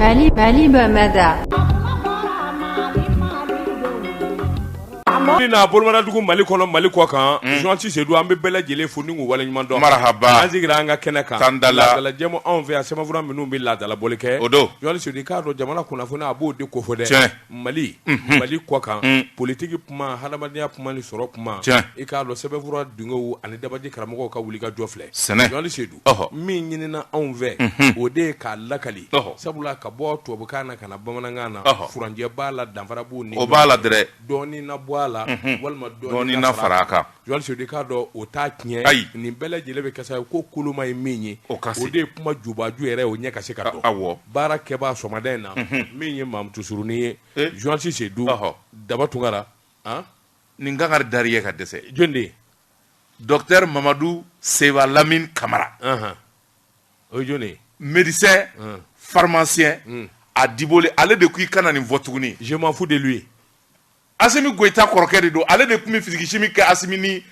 Mali Mali Bamada n'a bolomanadugu mali kɔnɔ mali kɔ kan journaliste Sedu an bɛ bɛɛ lajɛlen fo ni k'u waleɲuman dɔn marahaba an sigira an ka kɛnɛ kan tan laadala jɛmu anw fɛ a sɛbɛnfura minnu bɛ laadala bɔli kɛ o don journaliste Sedu i k'a dɔn jamana kunnafoni a b'o de kofɔ dɛ Mali mali kɔ kan politigi kuma hadamadenya kuma ni sɔrɔ kuma i k'a dɔn sɛbɛnfura dungew ani dabaji karamɔgɔw ka wuli ka jɔ filɛ sɛn journaliste Sedu min ɲinina anw fɛ o de ye k'a lakali sabula ka bɔ tubabukan na ka na bamanankan na furancɛ b'a la danfara b'u n'o b'a la dɔrɔn dɔɔnin na bɔ a la walima dɔɔnin na fara a kan Sedu i k'a dɔn o t'a tiɲɛ ayi nin bɛɛ lajɛlen bɛ kɛ sa ko koloma ye min ye o de ye kuma jubaju yɛrɛ o ɲɛ ka se ka dɔn baara kɛba sɔgɔmada in na min ye Mamutu surunnin ye journaliste Sedu Daba Tungara nin kanga da ye ka dɛsɛ jɔn de docteur Mamadu Seba Lamini Kamara o jɔn médecin pharmacien a diboli ale de ko i kana nin fɔ tuguni je m'en fous de lui Asimi Goyita kɔrɔkɛ de don, ale de tun bɛ physique chimie kɛ Asimi ni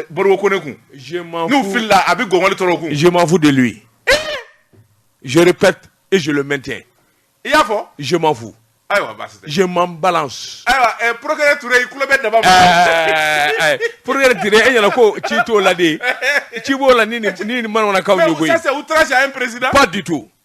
Modibo Kone kun, je m'en fous, n'u filila a bɛ gɔngɔli tɔrɔ u kun, je m'en fous de lui, je repète et je le maintiens, i y'a fɔ, je m'en fous, ayiwa baasi tɛ, je m'en balance, ayiwa procureur Ture i tulo bɛ Daba la, procureur Ture e ɲɛna ko ci t'o la dɛ, ci b'o la ni nin manamana kanw ye koyi, ça c'est outrage à un président, pas du tout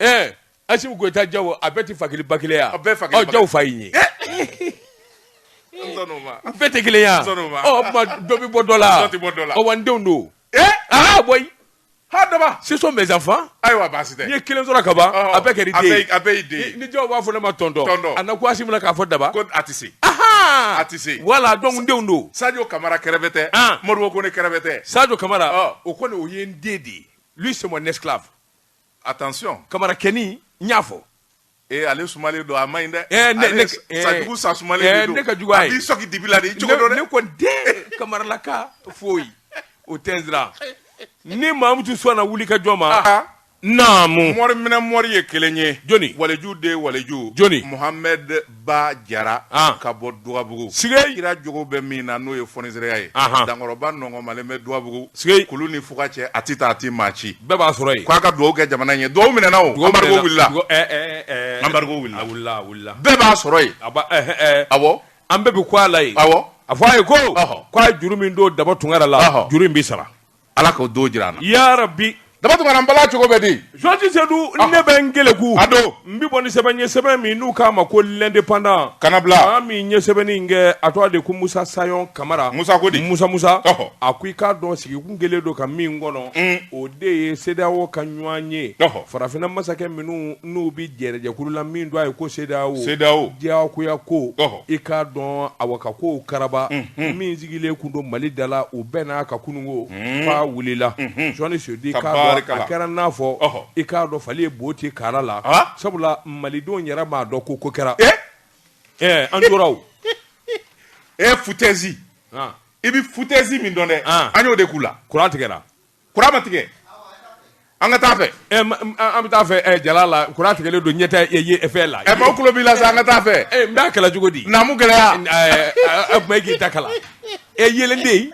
Ɛɛ Asimi Goyita Jawo a bɛɛ tɛ fa kelen ba kelen ye wa? A bɛɛ ye fa kelen ba kelen ye. Ɔ Jawo fa ye nin ye. An sɔnna o ma. A bɛɛ tɛ kelen ye wa? An sɔnna o ma. Ɔ o tuma dɔ bɛ bɔ dɔ la wa? Dɔ tɛ bɔ dɔ la. Ɔ wa n denw don. Ee! Aa boyi! Haa Daba! Ce sont mes enfants. Ayiwa baasi tɛ. N ye kelen sɔrɔ kaban. Ɔhɔ! A bɛɛ kɛra i den ye. A bɛɛ y'i den ye. Ni Jawo b'a fɔ ne ma tonton. Tonton. A na kun Asimi la k'a fɔ Daba. Ko a tɛ se. Ahaa! A tɛ se. Voilà donc n denw don. Sajo Kamara kɛrɛfɛ tɛ. An! Modibo Kone kɛrɛfɛ tɛ. Sajo Kamara. Ɔ! O kɔni o ye n den de ye. Lui c'est mon esclave. Attention Kamarakɛnin n y'a fɔ ee ale sumalen don a ma ɲi dɛ ee ne ne Sajo sa sumalen de don ne ka jugu a ye a b'i sɔki dibi la de i cogo dɔn dɛ ne ko dɛ kamaralaka foyi o tɛ n siran ni mamutu sɔnna wuli ka jɔ ma ah. naamu mɔri minɛ mɔri ye kelen ye jɔni waleju den waleju jɔni Muhamɛd ba jara ka bɔ Dugabugu s kira jogo bɛ min na n'o ye fonisireya ye dankɔrɔba nɔnkɔnmalen bɛ Dugabugu s kulu ni fuga cɛ a tɛ taa a tɛ maa ci bɛɛ b'a sɔrɔ yen k'a ka dugawu kɛ jamana ye dugawu minɛna wili bɛɛ b'a sɔrɔ yen a an bɛɛ bɛ k'a lajɛ a fɔ a ye ko k'a ye juru min don Daba Tungara la juru in bɛ sara ala k'o don jira an na ya rabbi daba tunkara n bala cogo bɛ di jɔnti sedu ah. ne bɛ n keleku a don n bɛ bɔ ni sɛbɛn ye sɛbɛn min n'u k'a ma ko l'indépendant ka n'a bila a min ye sɛbɛnni in kɛ a tɔgɔ de ko musa sayɔn kamara musa ko di musa musa a ko i k'a dɔn sigi kun kɛlen don ka min kɔnɔ mm. o de ye sedeyawo ka ɲɔgɔnye farafinna masakɛ minnu n'u bɛ jɛrɛjɛkulu la min don a ye ko sedeyawo sedeyawo diyagoya ko i k'a dɔn a ka ko karaba min sigilen tun don mali da la u bɛɛ n'a ka kununko fa wulila jɔnti sedu a kɛra n'a fɔ i k'a dɔn fali ye bo ci kara la sabula malidenw yɛrɛ m'a dɔn ko ko kɛra ɛ an tora e foutaise i bɛ foutaise min dɔn dɛ an y'o de k'u la kuran tigɛ kuran ma tigɛ an ka taa fɛ eh, an bɛ taa fɛ eh, jala la kuran tigɛlen don ɲɛta fɛ la eh, maaw tulo b'i la sa an ka taa fɛ n b'a kalan cogo di naamu gɛlɛya a tuma e k'i ta kalan e yeelen tɛ yen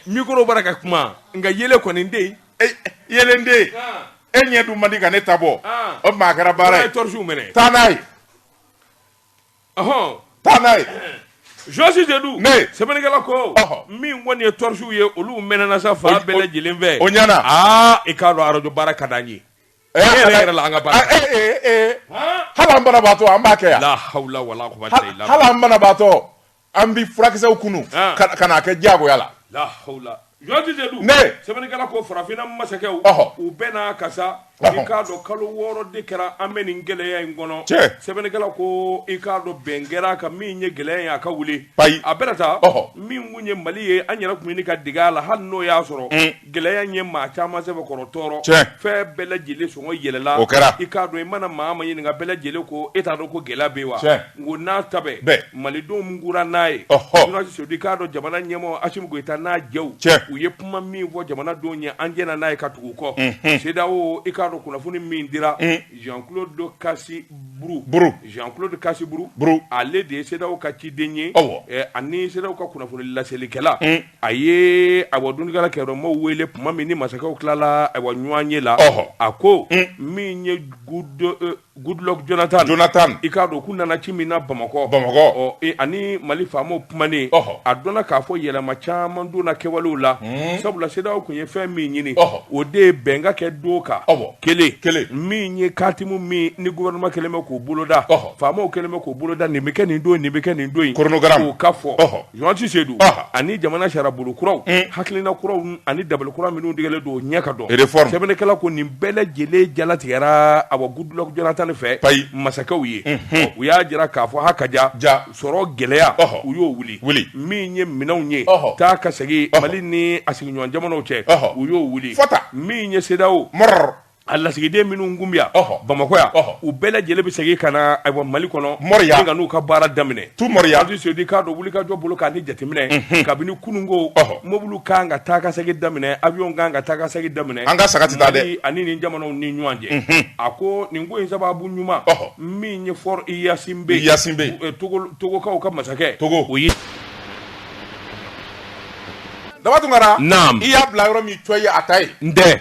mikoro b'a ra ka kuma nka yeelen kɔni tɛ yen yeelen tɛ yen ah. e ɲɛ dun man di ka ne ta bɔ ah. o tuma a kɛra baara ye tɔrisi mɛnɛ taa n'a ye ɔhɔn taa n'a ye Jɔnti Sedu ne sɛbɛnnikɛla ko min kɔni ye tɔrisiw ye olu mɛnɛna sa fan bɛɛ lajɛlen fɛ o ɲɛna aa i k'a dɔn arajo baara ka d'an ye e yɛrɛ yɛrɛ la an ka baara hali an banabaatɔ an b'a kɛ yan la hawla wala quwwata illa billah hali an banabaatɔ an bi furakisɛw kunu ka n'a kɛ diyagoya la la hawla Jɔnti Sedu mais sɛbɛnnikɛla ko farafinna masakɛw ɔhɔ u bɛɛ n'a kasa ɔhɔ i k'a dɔn kalo wɔɔrɔ de kɛra an bɛ nin gɛlɛya in kɔnɔ tiɲɛ sɛbɛnnikɛla ko i k'a dɔn bɛn kɛra a kan min ye gɛlɛya ye a ka wuli ayi a bɛna taa ɔhɔ min kun ye mali ye an yɛrɛ tun bɛ ɲini ka dege a la hali n'o y'a sɔrɔ mm. gɛlɛya in ye maa caman sɛbɛkɔrɔ tɔɔrɔ tiɲɛ fɛn bɛɛ lajɛlen sɔngɔ yɛlɛla o kɛra i k'a dɔn i mana maa ma ɲininka bɛɛ lajɛlen ko e t'a dɔn ko gɛlɛya bɛ wa tiɲɛ Nk'o n'a ta bɛɛ malidenw muɲura n'a ye ɔhɔ Jɔnti Sedu i k'a dɔn jamana ɲɛmɔɔ Assimi Goita n'a jɛw ɛ u ye kuma min fɔ jamanadenw ye an jɛna n'a ye ka tugu u kɔ unhun CEDEAO i k'a dɔn kunnafoni min dira un Jean Claude Kassi Brou Brou Jean Claude Kassi Brou Brou ale de ye CEDEAO ka ciden ye awɔ ɛ ani CEDEAO ka kunnafoni laselikɛla un a ye ayiwa dondikala kɛyɔrɔ maaw weele tuma min ni masakɛw tilala ayiwa ɲɔanye la ɔhɔ a ko un min ye gudo e Goodluck Jonathan Jonathan i k'a dɔn k'u nana ci min na bamakɔ bamakɔ ani mali faamaw kumanen a dɔnna k'a fɔ yɛlɛma caman donna kɛwalew la sabula CEDEAO tun ye fɛn min ɲini o de ye bɛn ka kɛ don kan kelen kelen min ye kantimu min ni gouvernement kɛlen bɛ k'o boloda faamaw kɛlen bɛ k'o boloda nin bɛ kɛ nin don nin bɛ kɛ nin don in k'o ka fɔ Jonti Seydu ani jamana sira bolo kuraw hakilina kuraw ani dabali kura minnu tigɛlen don ɲɛ ka dɔn sɛbɛnnikɛla ko nin bɛɛ lajɛlen jalatigɛra awɔ Goodluck Jonathan fɛ masakɛw ye u y'a jira k'a fɔ ha ka ja ja sɔrɔ gɛlɛya u y'o wuli wuli min ye minɛnw ye taa ka segin mali ni a sigiɲɔgɔn jamanaw cɛ u y'o wuli fata min ye CEDEAO mara A lasigiden minnu tun bɛ yan, ɔhɔ, Bamakɔ yan, ɔhɔ, u bɛɛ lajɛlen bɛ segin ka na ayiwa Mali kɔnɔ, Moriya, ka n'u ka baara daminɛ, tout Moriya, Jonti Seydu k'a dɔn wulikajɔ bolo kan ni jateminɛ, unhun, kabini kununko, ɔhɔ, mɔbiliw ka kan ka taa ka segin daminɛ, avion ka kan ka taa ka segin daminɛ, an ka saga tɛ taa dɛ, Mali ani nin jamanaw ni ɲɔgɔn cɛ, unhun, a ko nin ko in sababu ɲuman, ɔhɔ, min ye Faure Gnassingbé, Gnassingbé, Togo togokaw ka masakɛ, Togo, o ye Daba Tunkara, naamu, i y'a bila yɔrɔ min cɔyi a ta yen, n tɛ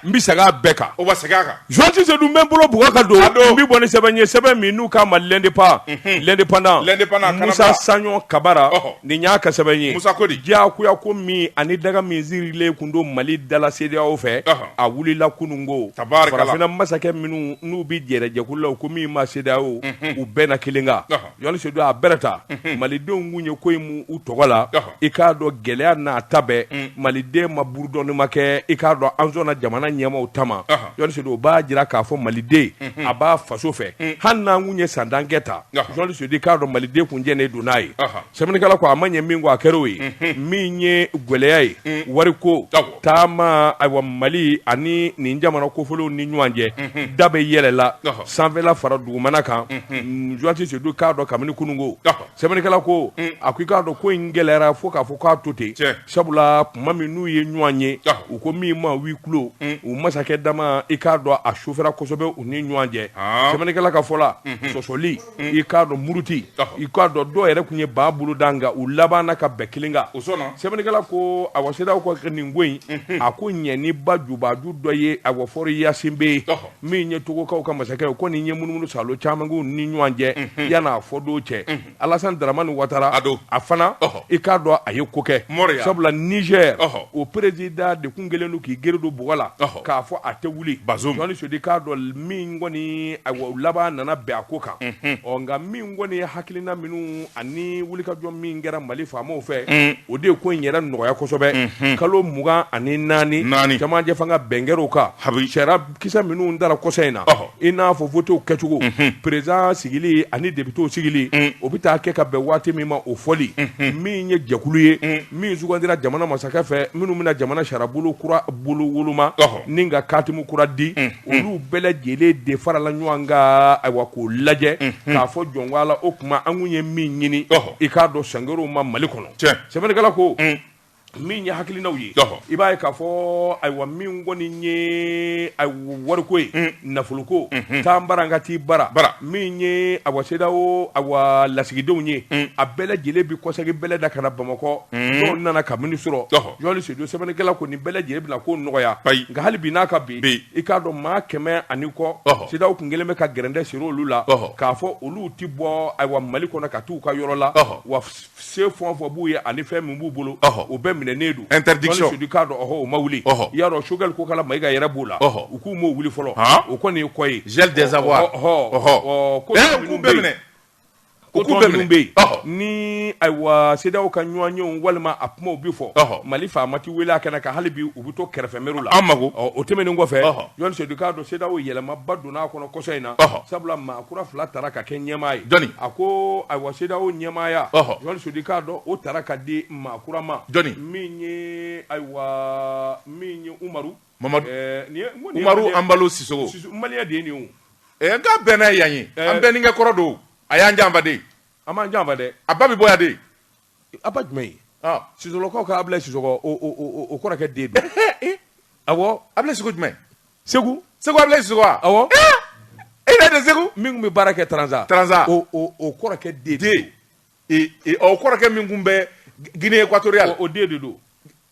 n bɛ segin a bɛɛ kan o bɛ segin a kan Jonti Seydu n bɛ n bolo bugɔ ka don n bɛ bɔ ni sɛbɛn ye sɛbɛn min n'u k'a ma l'indépendant l'indépendant Musa Sayɔn Kamara nin y'a ka sɛbɛn ye Musa ko di diyagoya ko min ani daga min sirilen tun don Mali dala CEDEAO fɛ a wulila kunun ko farafinna masakɛ minnu n'u bɛ jɛrɛjɛkulu la u ko min ma CEDEAO u bɛnna kelen kan. Jonti Seydu a bɛrɛ ta malidenw tun ye ko in u tɔgɔ la i k'a dɔn gɛlɛya n'a ta bɛɛ maliden ma burudɔnni ma kɛ i k'a dɔn an sɔnna jamana ɲɛmaw ta ma Jonti Seydu o b'a jira k'a fɔ maliden a b'a faso fɛ hali n'an kun ye san tan kɛ ta Jonti Seydu i k'a dɔn maliden tun jɛnnen don n'a ye sɛbɛnnikɛla ko a ma ɲɛ min kɔ a kɛr'o ye min ye gɛlɛya ye wari ko taama ayiwa mali ani nin jamana kofɔlenw ni ɲɔgɔn cɛ da bɛɛ yɛlɛla Ɔhɔ. sanfɛla fara dugumana kan Jonti Seydu k'a dɔn kabini kunun ko Ɔhɔ. sɛbɛnnikɛla ko a ko i k'a dɔn ko in gɛlɛyara fo k'a fɔ k'a to ten Tiɲɛ. sabula tuma min n'u ye ɲɔgɔn ye Ɔhɔ. u ko min ma huis clos u masakɛ dama i k'a dɔn a sofɛra kosɛbɛ u ni ɲɔgɔn cɛ Ah. sɛbɛnnikɛla ka fɔ la sɔsɔli i k'a dɔn muruti i k'a dɔn dɔw yɛrɛ tun ye ba bolo da nka u labanna ka bɛn kelen kan o sɛbɛnnikɛla ko awɔ CEDEAO ka kɛ nin ko in a ko ɲɛ ni ba jubaju dɔ ye awɔ Faure Gnassingbé ye min ye togokaw ka masakɛ ye ko nin ye munumunu saalo caman k'u ni ɲɔgɔn cɛ yan n'a fɔ don cɛ Alassane Dramane Ouattara don a fana i k'a dɔn a ye ko kɛ sabula Niger o président de tun kelen don k'i gere don bɔgɔ la k'a fɔ a tɛ wuli Jonti Seydu k'a dɔn min kɔni a laban nana bɛn a ko kan ɔ nka min kɔni ye hakilina minnu ani wulikajɔ min kɛra mali faamaw fɛ o de ye ko in yɛrɛ nɔgɔya kosɛbɛ kalo mugan ani naani camancɛ fanga bɛn kɛr'o kan sariya kisɛ minnu dara kɔsa in na i n'a fɔ votew kɛcogo président sigili ani députéw sigili o bɛ taa kɛ ka bɛn waati min ma o fɔli min ye jɛkulu ye min sugandira jamana masakɛ fɛ minnu bɛna jamana sariyabolo kura bolo woloma ni ka katimu kura di olu bɛɛ lajɛlen de farala ɲɔgɔn kan ayiwa k'o lajɛ k'a fɔ jɔnwala o kuma an kun ye min ɲini i k'a dɔn sangɛrɛw ma mali kɔnɔ sɛbɛnnikɛla ko min ye hakilinaw ye i b'a ye k'a fɔ ayiwa min kɔni ye wariko ye nafolo ko taa n bara n ka taa i bara min ye ayiwa CEDEAO ayiwa lasigidenw ye a bɛɛ lajɛlen bɛ kɔsegi bɛlɛ da ka na bamakɔ dɔw nana kabini surɔ jɔn sedu sɛbɛnnikɛla ko nin bɛɛ lajɛlen bɛna ko nɔgɔya nka hali bi n'a ka bi i k'a dɔn maa kɛmɛ ani kɔ CEDEAO kun kɛlen bɛ ka gɛrɛntɛ siri olu la k'a fɔ olu tɛ bɔ ayiwa mali kɔnɔ ka taa u ka yɔrɔ la wa se fɛn o fɛn b'u ye ani fɛn min b'u bolo o bɛɛ minɛnen don interdiction sedu i k'a dɔn ɔhɔ o ma wuli i y'a dɔn sogɛli kokala mayiga yɛrɛ b'o la u k'u m'o wuli fɔlɔ o kɔni ye kɔ ye gel des avoirs ɔhɔ ko ko tɔw minnu bɛ yen ni ayiwa CEDEAO ka ɲɔgɔnyew walima a kumaw bi fɔ mali faama ti wele a kɛnɛ kan hali bi u bɛ to kɛrɛfɛ mɛriw la an mago o tɛmɛnen kɔfɛ jɔn sedu i k'a dɔn CEDEAO yɛlɛmaba donna a kɔnɔ kɔsɔ in na sabula maa Kura fila taara ka kɛ ɲɛmaa ye dɔnni a ko ayiwa CEDEAO ɲɛmaaya jɔn sedu i k'a dɔn o taara ka di maa kura ma min ye ayiwa min ye umaru mamadu umaru ambalo sisɔkɔ maliyɛn de ye nin ye n ka bɛn n'a yan ye an bɛnkɛ kɔrɔ don a y'an janfa de a m'an janfa dɛ a ba bɛ bɔ yan de A ba jumɛn ye sisɔlɔkaw ka Abilaye Sisɔkɔ o kɔrɔkɛ den don, ee, awɔ, Abilaye Sisɔkɔ jumɛn? Segu, Segu Abilaye Sisɔkɔ wa? Awɔ, ee, e y'a dɔn Segu min kun bɛ baara kɛ Taranza, Taranza, o kɔrɔkɛ den, den, ee, ɔ o kɔrɔkɛ min kun bɛ Guinée Équatoriale o den de don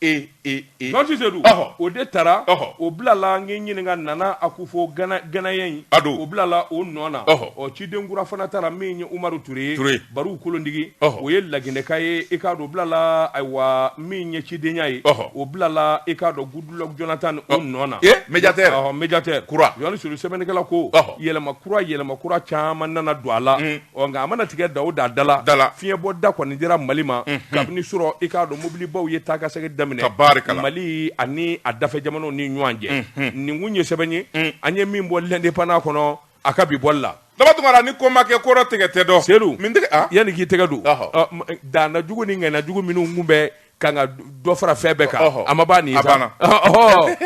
e e e jɔn Sedu ɔhɔ o de taara ɔhɔ o bilala n ɲininka nana akufo gana ganayɛn in a don o bilala o nɔ na ɔhɔ ɔ ciden kura fana taara min ye umaru ture ye ture bariw kolondigi ɔhɔ o ye laginɛka ye i k'a dɔn o bilala ayiwa min ye cidenya ye ɔhɔ o bilala i k'a dɔn goodluck jonathan o nɔ na e médiateur ɔhɔ médiateur kura jɔn sedu sɛbɛnnikɛla ko ɔhɔ yɛlɛma kura yɛlɛma kura caman nana don a la Ɔ nka a mana tigɛ da o da la, fiɲɛ bɔ da kɔni dira Mali ma, unhun, kabini surɔ i k'a dɔn mobilibaw ye taa ka segin daminɛ, tabaarikala, Mali ani a dafɛ jamanaw ni ɲɔgɔn cɛ, unhun, nin kun ye sɛbɛn ye, un, an ye min bɔ l'indépendant kɔnɔ a ka bi bɔli la. Daba Tunkara, ni ko ma kɛ kɔrɔ tigɛ tɛ dɔn. Sedu, min tɛgɛ, an, yanni k'i tɛgɛ don, ɔhɔ, ɔ daana jugu ni ŋaniya jugu minnu kun bɛ kan ka dɔ fara fɛn bɛɛ kan, ɔhɔ, a ma ban nin ye sa, a banna, ɔhɔ,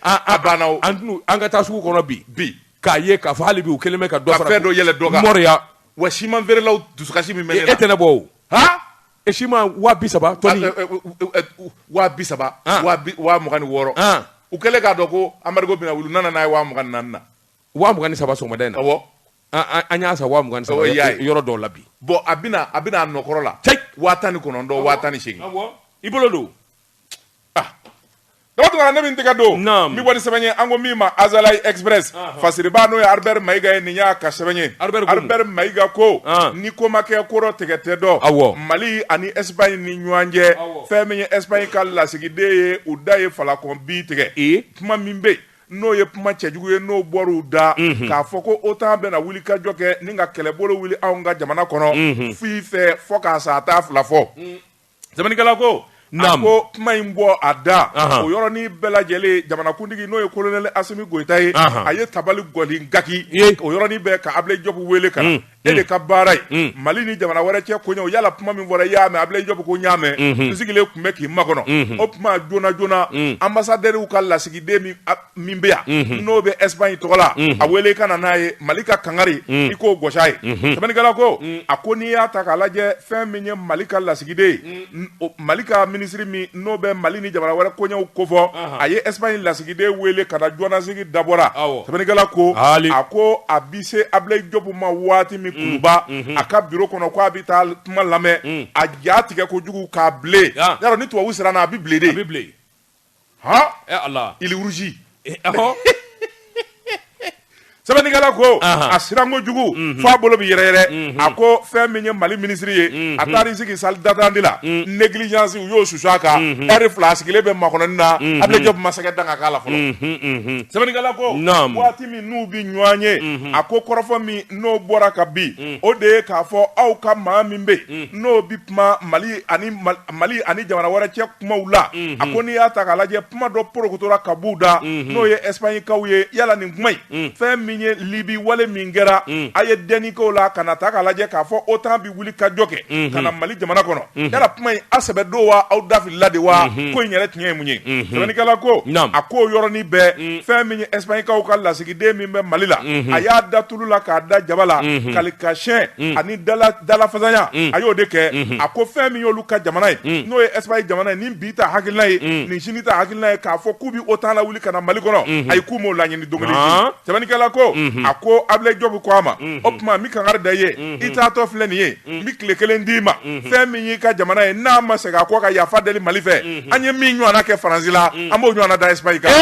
a banna o, an ka taa sugu kɔnɔ bi, bi k'a ye k'a fɔ hali bi u kelen bɛ ka dɔ fara fɛn dɔ yɛlɛ dɔ kan mɔriya wa siman feerelaw dusukasi min bɛ ne la e tɛ ne bɔ o ha e siman waa bi saba tɔni waa bi saba waa mugan ni wɔɔrɔ u kɛlen k'a dɔn ko anbarigo bɛna wuli u nana n'a ye waa mugan ni naani na waa mugan ni saba sɔgɔmada in na awɔ an y'a san waa mugan ni saba yɔrɔ dɔw la bi bon a bɛna a bɛna a nɔkɔrɔ la waa tan ni kɔnɔntɔn waa tan ni seegin i bolo don Daba Tunkara ne bi n tɛgɛ don n bi bɔ ni sɛbɛn ye an ko min ma Azalaï Express fasiriba n'o ye Albert Maïga ye nin y'a ka sɛbɛn ye Albert Maïga ko ni ko ma kɛ kɔrɔ tigɛ tɛ dɔn mali ani Espagne ni ɲɔgɔn cɛ fɛn min ye Espagne ka lasigiden ye u da ye falakɔ bi tigɛ kuma min bɛ n'o ye kuma cɛjugu ye n'o bɔra u da k'a fɔ ko otan bɛna wuli ka jɔ kɛ ni ka kɛlɛbolo wuli anw ka jamana kɔnɔ f'i fɛ fɔ k'a sa a taa fila fɔ Sɛbɛnnikɛla ko a ko kuma in bɔ a da o yɔrɔnin bɛɛ lajɛlen jamanakuntigi n'o ye kolonɛli Asimi Goïta ye a ye tabali gɔni gaki o yɔrɔnin bɛɛ ka Ablaye Diop wele ka na e de ka baara ye mali ni jamana wɛrɛ cɛ koɲɛ yala kuma min fɔra i y'a mɛn Ablaye Diop ko n y'a mɛn n sigilen tun bɛ k'i makɔnɔ o tuma joona joona anbasadɛriw ka lasigiden min min bɛ yan n'o bɛ Espagne tɔgɔ la a wele ka na n'a ye mali ka kangari i k'o gosi a ye sɛbɛnnikɛla ko a ko n'i y'a ta k'a lajɛ fɛn min ye mali ka lasigiden ye mali ka minisiri min n'o bɛ mali ni jamana wɛrɛ koɲɛw kofɔ a ye Espagne lasigiden wele ka na jɔnnasigi dabɔra sɛbɛnnikɛla ko a ko a bi se Ablaye Diop ma waati min kunba a ka biro kɔnɔ ko a bɛ taa kuma lamɛn a ja tigɛ kojugu k'a bilen ni tubabu siranna a bɛ bilen de bɛ bilen ah il rougit sɛbɛnnikɛla ko a siran kojugu fo a bolo bɛ yɛrɛyɛrɛ a ko fɛn min ye mali minisiri ye a taara i sigi salle d'attente la négligence u y'o su a kan ɛri fila a sigilen bɛ makɔnɔni na Ablaye Diop ma se ka dan kan' la fɔlɔ sɛbɛnnikɛla ko waati min n'u bɛ ɲɔgɔn ye a ko kɔrɔfɔ min n'o bɔra ka bin o de ye k'a fɔ aw ka maa min bɛ yen n'o bɛ kuma mali ani mali ani jamana wɛrɛ cɛ kumaw la a ko n'i y'a ta k'a lajɛ kuma dɔ porokotora ka bɔ u da n'o ye Espagne kaw ye yala nin kuma in fɛn min ye libi wale min kɛra a ye dɛnni k'o la ka na ta k'a lajɛ k'a fɔ otan bɛ wuli ka jɔ kɛ ka na mali jamana kɔnɔ yala kuma in a sɛbɛ don wa aw dafilila de wa ko in yɛrɛ tiɲɛ ye mun ye sɛbɛnnikɛla ko a k'o yɔrɔnin bɛɛ fɛn min ye Espagne kaw ka lasigiden min bɛ mali la a y'a da tulu la k'a da jaba la kali ka siyɛn ani dalafasaya a y'o de kɛ a ko fɛn min y'olu ka jamana ye n'o ye Espagne jamana ye nin bi ta hakilina ye nin sini ta hakilina ye k'a fɔ k'u bɛ otan lawuli ka na mali kɔnɔ ayi k'u m'o laɲini don kelen sɛbɛnnikɛla ko a ko Ablaye Diop ko a ma o tuma n bɛ kangari da i ye i taatɔ filɛ nin ye n bɛ tile kelen d'i ma fɛn min y'i ka jamana ye n'a ma segin a kɔ ka yafa deli mali fɛ an ye min ɲɔgɔnna kɛ faransi la an b'o ɲɔgɔnna da Espagne kan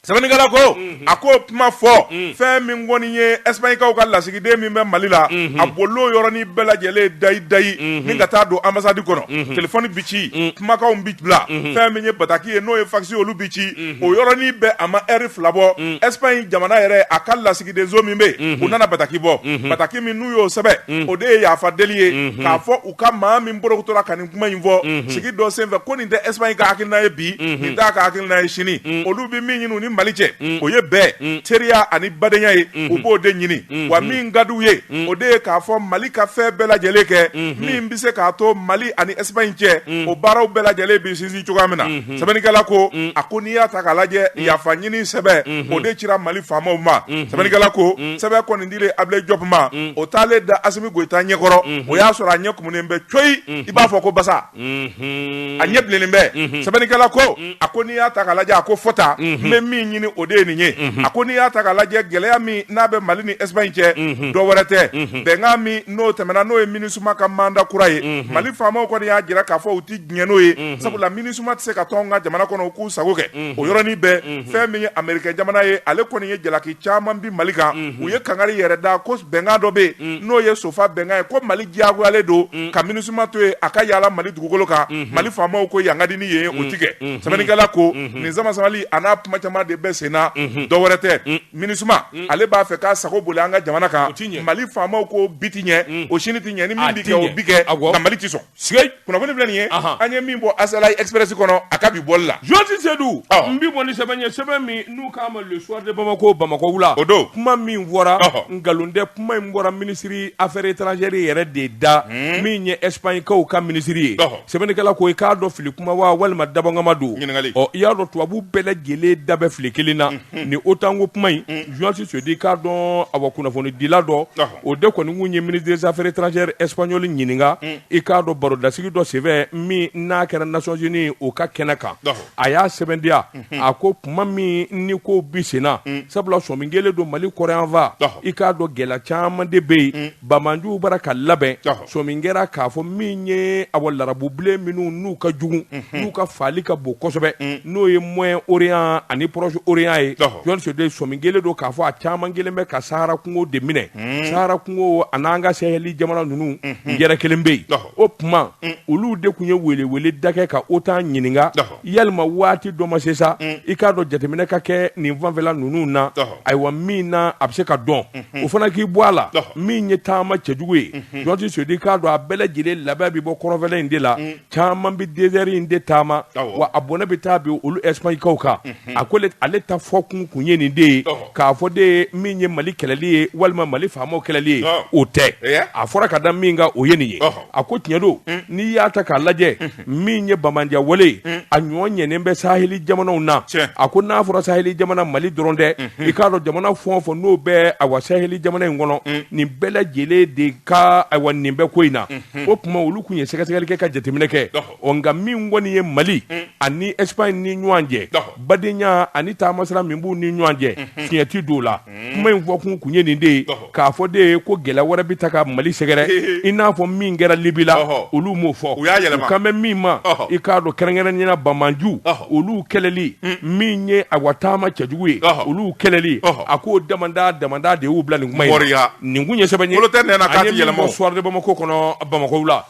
sɛbɛnnikɛla ko a ko kuma fɔ fɛn min kɔni ye espagne kaw ka lasigiden min bɛ mali la a bolo yɔrɔnin bɛɛ lajɛlen dayi dayi ni ka taa don ambassade kɔnɔ telefɔni bɛ ci kumakanw bɛ bila fɛn min ye bataki ye n'o ye fasi olu bɛ ci o yɔrɔnin bɛɛ a ma ɛri fila bɔ espagne jamana yɛrɛ a ka lasigidenso min bɛ u nana bataki bɔ bataki min n'u y'o sɛbɛn o de ye yafa deli ye k'a fɔ u ka maa min borotora kuma in fɔ sigi dɔ sen fɛ ko nin tɛ espagne ka hakilina ye bi nin t'a ka hakilina ye sini olu bɛ min ɲini u ni mali cɛ o ye bɛn teriya ani badenya ye u b'o de ɲini wa min ka di u ye o de ye k'a fɔ mali ka fɛn bɛɛ lajɛlen kɛ min bɛ se k'a to mali ani espagne cɛ o baaraw bɛɛ lajɛlen bɛ sinsin cogoya min na sɛbɛnnikɛla ko a ko n'i y'a ta k'a lajɛ yafa ɲini sɛbɛn o de cira mali faamaw ma sɛbɛnnikɛla ko sɛbɛn kɔni dilen abilayi jɔp ma o taalen da asimi goyita ɲɛkɔrɔ o y'a sɔrɔ a ɲɛ munen bɛ coyi i b'a fɔ ko basa a ɲɛ bilennen bɛ sɛbɛnnikɛla ko a ko n'i y'a ta k'a lajɛ a ko fɔ otan bɛ min ɲini o de ye nin ye a ko n'i y'a ta k'a lajɛ gɛlɛya min n'a bɛ mali ni espagne cɛ dɔ wɛrɛ tɛ bɛnkan min n'o tɛmɛna n'o ye minusma ka mandat kura ye mali faamaw kɔni y'a jira k'a fɔ u tɛ diɲɛ n'o ye sabula minusma tɛ se ka to an ka jamana kɔnɔ u k'u sago kɛ o yɔrɔnin bɛɛ fɛn min ye ameriki jamana ye ale kɔni ye jalaki caman bin mali kan u ye kangari yɛrɛ da ko bɛnkan dɔ bɛ yen n'o ye sofa bɛnkan ye ko mali diyagoyalen don ka minusma to yen a ka yaala mali dugukolo kan mali faamaw ko yan ka di ni yen o tɛ kɛ sɛbɛnnikɛla ko nin samasamali a n'a kuma caman de bɛ senna dɔ wɛrɛ tɛ minusma ale b'a fɛ k'a sago boli an ka jamana kan mali faamaw ko bi tɛ ɲɛ o sini tɛ ɲɛ ni min bɛ kɛ o bɛ kɛ nka mali tɛ sɔn kunnafoni filɛ nin ye an ye min bɔ azalaï express kɔnɔ a ka bi bɔli la jɔsi sedu n bi bɔ ni sɛbɛn ye sɛbɛn min n'u k'a ma le soir de bamako bamakɔ wula o don kuma min fɔra nkalon tɛ kuma in bɔra minisiri affaires étrangères yɛrɛ de da hmm. min ye espagne kaw ka minisiri ye sɛbɛnnikɛla ko i k'a dɔn fili kuma wa walima dabɔnkama don ɔ i y'a dɔn tubabu bɛɛ lajɛlen da bɛ fili kelen na hmm. ni otan ko kuma in jɔsi hmm. sedu i k'a dɔn awa kunnafonidila dɔ o de kɔni kun ye ministre des affaires étrangères espagnol ɲininka i k'a dɔn barodasigi dɔ senfɛ min n'a kɛra nations unies u ka kɛnɛ kan a y'a sɛbɛntiya a ko tuma min nin ko bi senna sabula sɔmi kɛlen don mali kɔrɔyanfa i k'a dɔn gɛlɛya caman de bɛ yen banjuw bara ka labɛn sɔmi kɛra k'a fɔ min ye a larabubilen minnu n'u ka jugu mhm. n'u ka faali ka bon kosɛbɛ mm. n'o ye moyen orient ani proche orient ye jɔsi sedu sɔmi kɛlen don k'a fɔ a caman kɛlen bɛ ka sahara kungo de minɛ mm. sahara kungo a n'an ka saheli jamana ninnu mhm. yɛrɛ kelen bɛ yen o tuma mm. olu de tun ye welewele da kɛ ka otan ɲininka yalima waati dɔ ma se sa i k'a dɔn jateminɛ ka kɛ nin fanfɛla ninnu na ayiwa min na a bɛ se ka dɔn mhm. o fana k'i bɔ a la min ye taama cɛjugu ye mhm. jɔn tɛ seyidu i k'a dɔn a bɛɛ lajɛlen laban bɛ bɔ kɔrɔnfɛla in de la mm. caman bɛ dezɛri in de taama wa a bɔnɛ bɛ taa bin olu ɛsipaɲikaw kan mhm. a ko ale ta fɔ kun kun ye nin de ye k'a fɔ de ye min ye mali kɛlɛli ye walima mali faamaw kɛlɛli ye o tɛ a fɔra ka da min kan o ye nin ye a ko tiɲɛ don mm. n'i y'a ta k'a lajɛ mm. min ye banbaanciya wale ye mm. a ɲɔgɔn ɲɛnen bɛ saheli jamanaw na a ko n'a fɔra saheli jamana mali dɔrɔn tɛ mm-hmm. i k'a dɔn jamana fɛn o fɛn n'o bɛ awa saheli jamana in kɔnɔ mm. nin bɛɛ lajɛlen de ka awa nin bɛ ko in na mm-hmm. o tuma olu kun ye sɛgɛsɛgɛli kɛ ka jateminɛ kɛ ɔ nka min kɔni ye mali mm. ani espagne ni ɲɔgɔn cɛ badenya ani taamasira min b'u ni ɲɔgɔn cɛ mm-hmm. fiɲɛ ti don o la kuma in fɔ kun kun ye nin de ye k'a fɔ de ye ko gɛlɛn wɛrɛ bɛ taa ka mali sɛgɛrɛ i n'a fɔ min kɛra libi la olu m'o fɔ u kan bɛ min ma i k'a dɔn kɛrɛnkɛrɛnnenya la banbaanci olu kɛlɛli hmm. min ye awa taama cɛjugu ye olu kɛlɛli a k'o damadama de y'u bila nin kuma in na nin kun ye sɛbɛn ye an ye min bɔ soir de bamakɔ kɔnɔ bamakɔ wula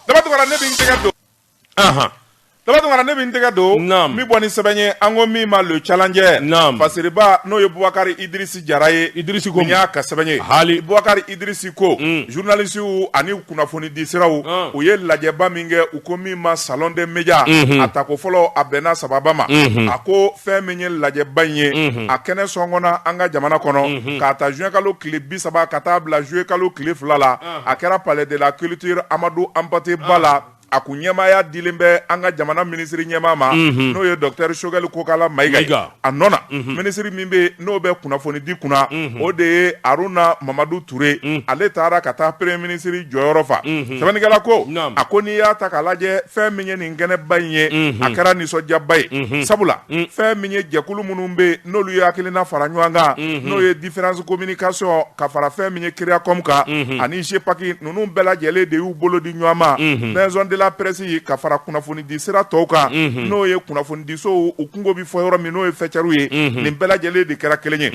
daba tunkara ne bɛ n tɛgɛ don min bɔ ni sɛbɛn ye an ko min ma le challenger fasiriba n'o ye bubakari idrisi jara ye idrisi y'a ka sɛbɛn ye ale bubakari idrisi ko zurunalisiw ani kunnafoni di siraw u ye lajɛba min kɛ u ko min ma salon des médias a tako fɔlɔ a bɛnna sababa ma a ko fɛn min ye lajɛba in ye a kɛnɛ sɔngɔnna an ka jamana kɔnɔ k'a ta zuwɛnkalo tile bi saba ka taa bila zuluyekalo tile fila la a kɛra palais de la culture amadu hanpate ba la a kun ɲɛmaaya dilen bɛ an ka jamana minisiri ɲɛmaa ma n'o ye dɔkitɛri shogɛli kokala mayiga a nɔ na minisiri min bɛ n'o bɛ kunnafoni di kunna o de ye aruna mamadu ture ale taara ka taa premier ministre jɔyɔrɔ fa sɛbɛnnikɛla ko a ko n'i y'a ta k'a lajɛ fɛn min ye nin kɛnɛba in ye a kɛra nisɔndiyaba ye sabula fɛn min ye jɛkulu minnu bɛ yen n'olu ye hakilina fara ɲɔgɔn kan mhm. n'o ye différence communication ka fara fɛn min ye créacom kan mhm. ani jepaki ninnu bɛɛ lajɛlen de y'u bolo di ɲɔgɔn ma mhm. maison de la presse ka fara kunnafonidi sira tɔw kan n'o ye kunnafonidisow u kunko bi fɔ yɔrɔ min n'o ye fɛcɛriw ye nin bɛɛ lajɛlen de kɛra kelen ye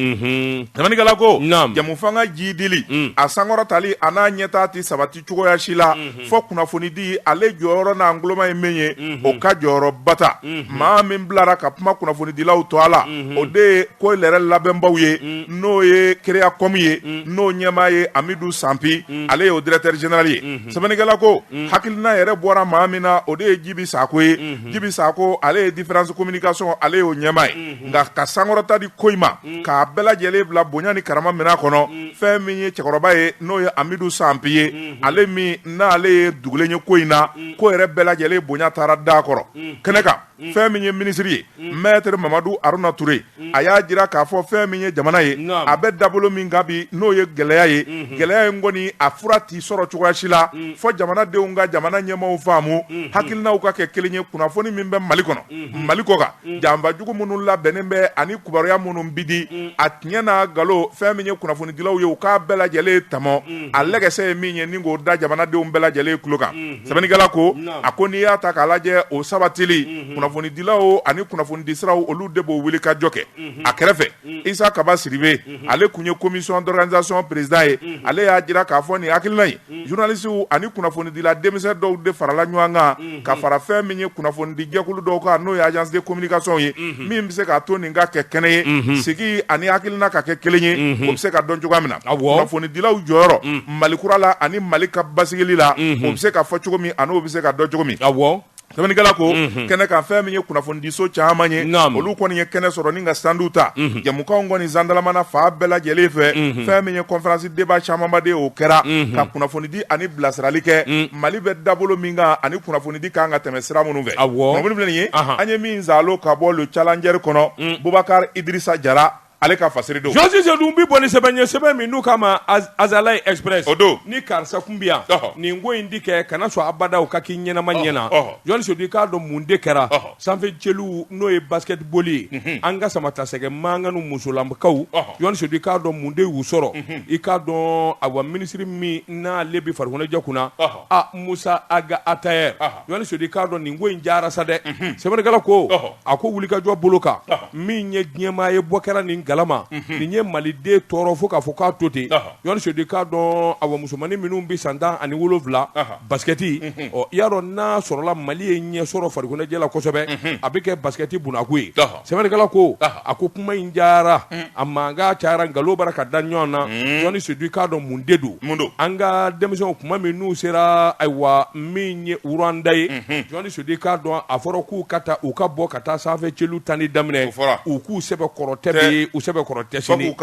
sɛbɛnnikɛla ko jɛmufanga jiidili a sankɔrɔtali a n'a ɲɛtaa ti sabati cogoya si la fɔ kunnafoni di ale jɔyɔrɔ n'an goloma ye min ye o ka jɔyɔrɔba ta maa min bilara ka kuma kunnafonidilaw tɔgɔ la o de ye ko yɛrɛ labɛnbaw ye n'o ye créacom ye n'o ɲɛmaa ye amidu sanpi ale ye o directeur général ye sɛbɛnnikɛla ko hakilina yɛrɛ bɔra maa min na o de ye jibi sakɔ ye jibi sakɔ ale ye différence communication ale y'o ɲɛmaa ye nka ka sankɔrɔta di ko in ma k'a bɛɛ lajɛlen bila bonya ni karama minɛn kɔnɔ fɛn min ye cɛkɔrɔba ye n'o ye amidu sanpi ye ale min n'ale ye dugulen ye ko in na ko yɛrɛ bɛɛ lajɛlen bonya taara da kɔrɔ kɛnɛ kan fɛn min ye minisiri ye maître mamadu aruna touré a y'a jira k'a fɔ fɛn min ye jamana ye a bɛ dabolo min kan bi n'o ye gɛlɛya ye gɛlɛya in kɔni a fura ti sɔrɔ cogoya si la fo jamanadenw ka jamana ɲɛmaaw faamu hakilinaw ka kɛ kelen ye kunnafoni min bɛ mali kɔnɔ mali kɔ kan janfa jugu minnu labɛnnen bɛ ani kibaruya minnu bi di a tiɲɛ n'a nkalon fɛn min ye kunnafonidilaw ye u k'a bɛɛ lajɛlen tɔmɔ a lɛgɛsɛ ye min ye ni k'o da jamanadenw bɛɛ lajɛlen tulo kan sɛbɛnnikɛla ko a ko n'i y'a ta k'a lajɛ o sabatili kunnafonidilaw ani kunnafonidisiraw olu de b'o wulikajɔ kɛ a kɛrɛfɛ isa kaba sidibe ale tun ye commission d'organisation président ye ale y'a jira k'a fɔ nin hakilina ye journalistes ani kunnafonidila denmisɛn dɔw de farala ɲɔgɔn kan, unhun, ka fara fɛn min ye kunnafonidi jɛkulu dɔw kan n'o ye agence de communication ye, unhun, min bɛ se k'a to nin ka kɛ kɛnɛ ye, unhun, sigi ani hakilina ka kɛ kelen ye, unhun, o bɛ se ka dɔn cogoya min na, awɔ, kunnafonidilaw jɔyɔrɔ, un, Mali kura la ani Mali ka basigili la, unhun, o bɛ se ka fɔ cogo min an'o bɛ se ka dɔn cogo min, awɔ. Sɛbɛnnikɛla ko kɛnɛ kan fɛn min ye kunnafonidiso caman ye olu kɔni ye kɛnɛ sɔrɔ ni ka standw ta jamukanw kɔni zandalamana fan bɛɛ lajɛlen fɛ fɛn min ye conférence débat camanba de o kɛra ka kunnafoni di ani bilasirali kɛ mali bɛ dabolo min kan ani kunnafonidi kan ka tɛmɛ sira minnu fɛ kunnafoni filɛ nin ye an ye min zalo ka bɔ le challenger kɔnɔ bubakari idrisa jara ale ka fasiri don jɔni sedu n bi bɔ ni sɛbɛn ye sɛbɛn min n'u k'a ma azalaï express o don ni karisa kun bɛ yan nin ko in ti kɛ kana sɔn abada o ka k'i ɲɛnama ɲɛ na jɔni sedu i k'a dɔn mun de kɛra sanfɛ celu n'o ye basketball ye an ka samatasɛgɛ mankanw musolamakaw jɔni sedu i k'a dɔn mun de y'u sɔrɔ i k'a dɔn awa minisiri min n'ale bɛ farikoloɲɛnajɛ kunna a musa ag attaher Jɔni Sedu i k'a dɔn nin ko in diyara sa dɛ, unhun, Sɛbɛnnikɛla ko, ɔhɔ, a ko wulikajɔ bolo kan, ɔhɔ, min ye diɲɛmaa ye bɔ kɛra nin galama, unhun, nin ye Maliden tɔɔrɔ fo k'a fɔ k'a to ten, ɔhɔ, Jɔni Sedu i k'a dɔn awa musomannin minnu bɛ san tan ani wolonwula, ɔhɔ, basikɛti, unhun, ɔ i y'a dɔn n'a sɔrɔla Mali ye ɲɛ sɔrɔ farikoloɲɛnajɛ la kosɛbɛ, unhun, a bɛ kɛ basikɛti bunakun ye, ɔhɔ. Sɛbɛnnikɛla ko a ko kuma in diyara a mankan cayara nkalon bara ka da ɲɔgɔn na jɔni sedu i k'a dɔn mun de don an ka denmisɛnw tuma min n'u sera ayiwa min ye Ruwanda ye jɔni sedu i k'a dɔn a fɔra k'u ka taa u ka bɔ ka taa sanfɛ celu tanni daminɛ u k'u sɛbɛn kɔrɔ tɛ bi u sɛbɛn kɔrɔ tɛ sini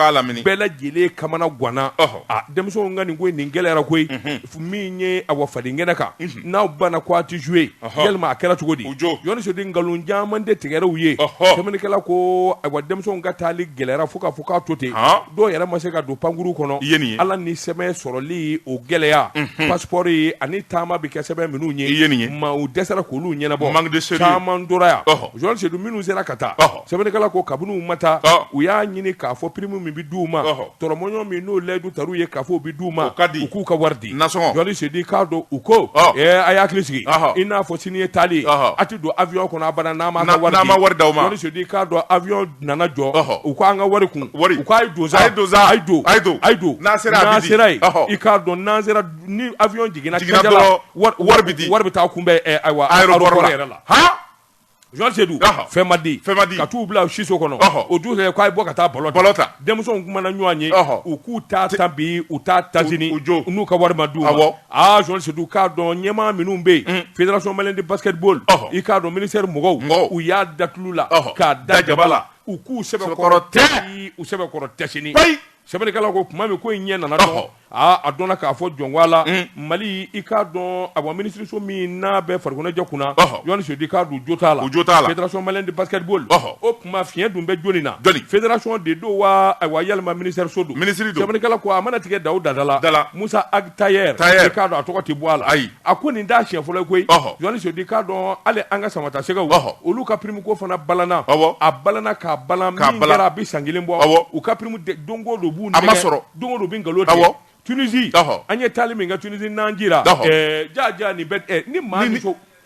bɛɛ lajɛlen kamana ganna denmisɛnw nka nin ko nin gɛlɛyara koyi min ye awa fadenkɛnɛ kan n'aw banna ko a ti jouer yalima a kɛra cogo di jɔni sedu nkalon caman de tigɛra u ye sɛbɛnnikɛla ko awa denmisɛnw ka taali gɛlɛyayara fo k'a fɔ k'a to ten dɔw yɛrɛ ma se ka don pankurun kɔnɔ ala ni sɛbɛn sɔrɔli o gɛlɛya passeport ye ani taama bɛ kɛ sɛbɛn minnu ye ɲɛmaaw dɛsɛra k'olu ɲɛnabɔ caman tora yan jɔni sedu minnu sera ka taa sɛbɛnnikɛla ko kabini u ma taa u y'a ɲini k'a fɔ prime min bɛ d'u ma tɔrɔmɔɲɔgɔn min n'o layidu tara u ye k'a fɔ u bɛ d'u ma u k'u ka wari di Jɔni Sedu k'a dɔn u ko a y'a hakili sigi i n'a fɔ sini ye taali a tɛ don avion kɔnɔ abada n'a ma wari d'a ma k'a dɔn avion nana jɔ u k'an ka wari kun u k'a ye don a ye don n'a sera yen i k'a dɔn n'an sera ni avion jiginna dɔrɔn wari bɛ taa kunbɛn aéroport yɛrɛ la sedu fɛn ma di fɛn ma di ka t'u bila siso kɔnɔ o dugujɛ k'a ye bɔ ka taa ballon ballon ta denmisɛnw kumana ɲɔgɔn ye u k'u ta ta bi u ta taz n'u ka wari ma d'u ma sedu k'a dɔn ɲɛmaa minnu bɛ yen fédération malienne de basketball i k'a dɔn ministère mɔgɔw u y'a da tulu la k'a da jaba la u k'u sɛbɛkɔrɔ tɛ u sɛbɛkɔrɔ tɛ sini sɛbɛnnikɛla ko kuma min ko in ɲɛ nana dɔn aa a dɔnna k'a fɔ jɔnwa la mali i k'a dɔn a minisiriso min n'a bɛ farikoloɲɛnajɛ kunna Jɔni Sedu k'a dɔn jo t'a la jo t'a la fédération malienne de basketball o kuma fiɲɛ dun bɛ jɔnni na fédération de don wa ayiwa walima minisiriso don sɛbɛnnikɛla ko a mana tigɛ da o da la Musa Ag Attaher i k'a dɔn a tɔgɔ tɛ bɔ a la ayi a ko nin t'a siɲɛ fɔlɔ ye koyi Jɔni Sedu k'a dɔn hali an ka samatasɛgɛw olu ka prime ko fana balana a balana k'a balan min kɛra a bɛ san kelen bɔ u ka prime don o don b'u nɛgɛn a ma sɔrɔ don o don u bɛ nkalon tigɛ Tunisie an ye taali min kɛ Tunisie n'an jira jaa jaa nin bɛɛ ni maa min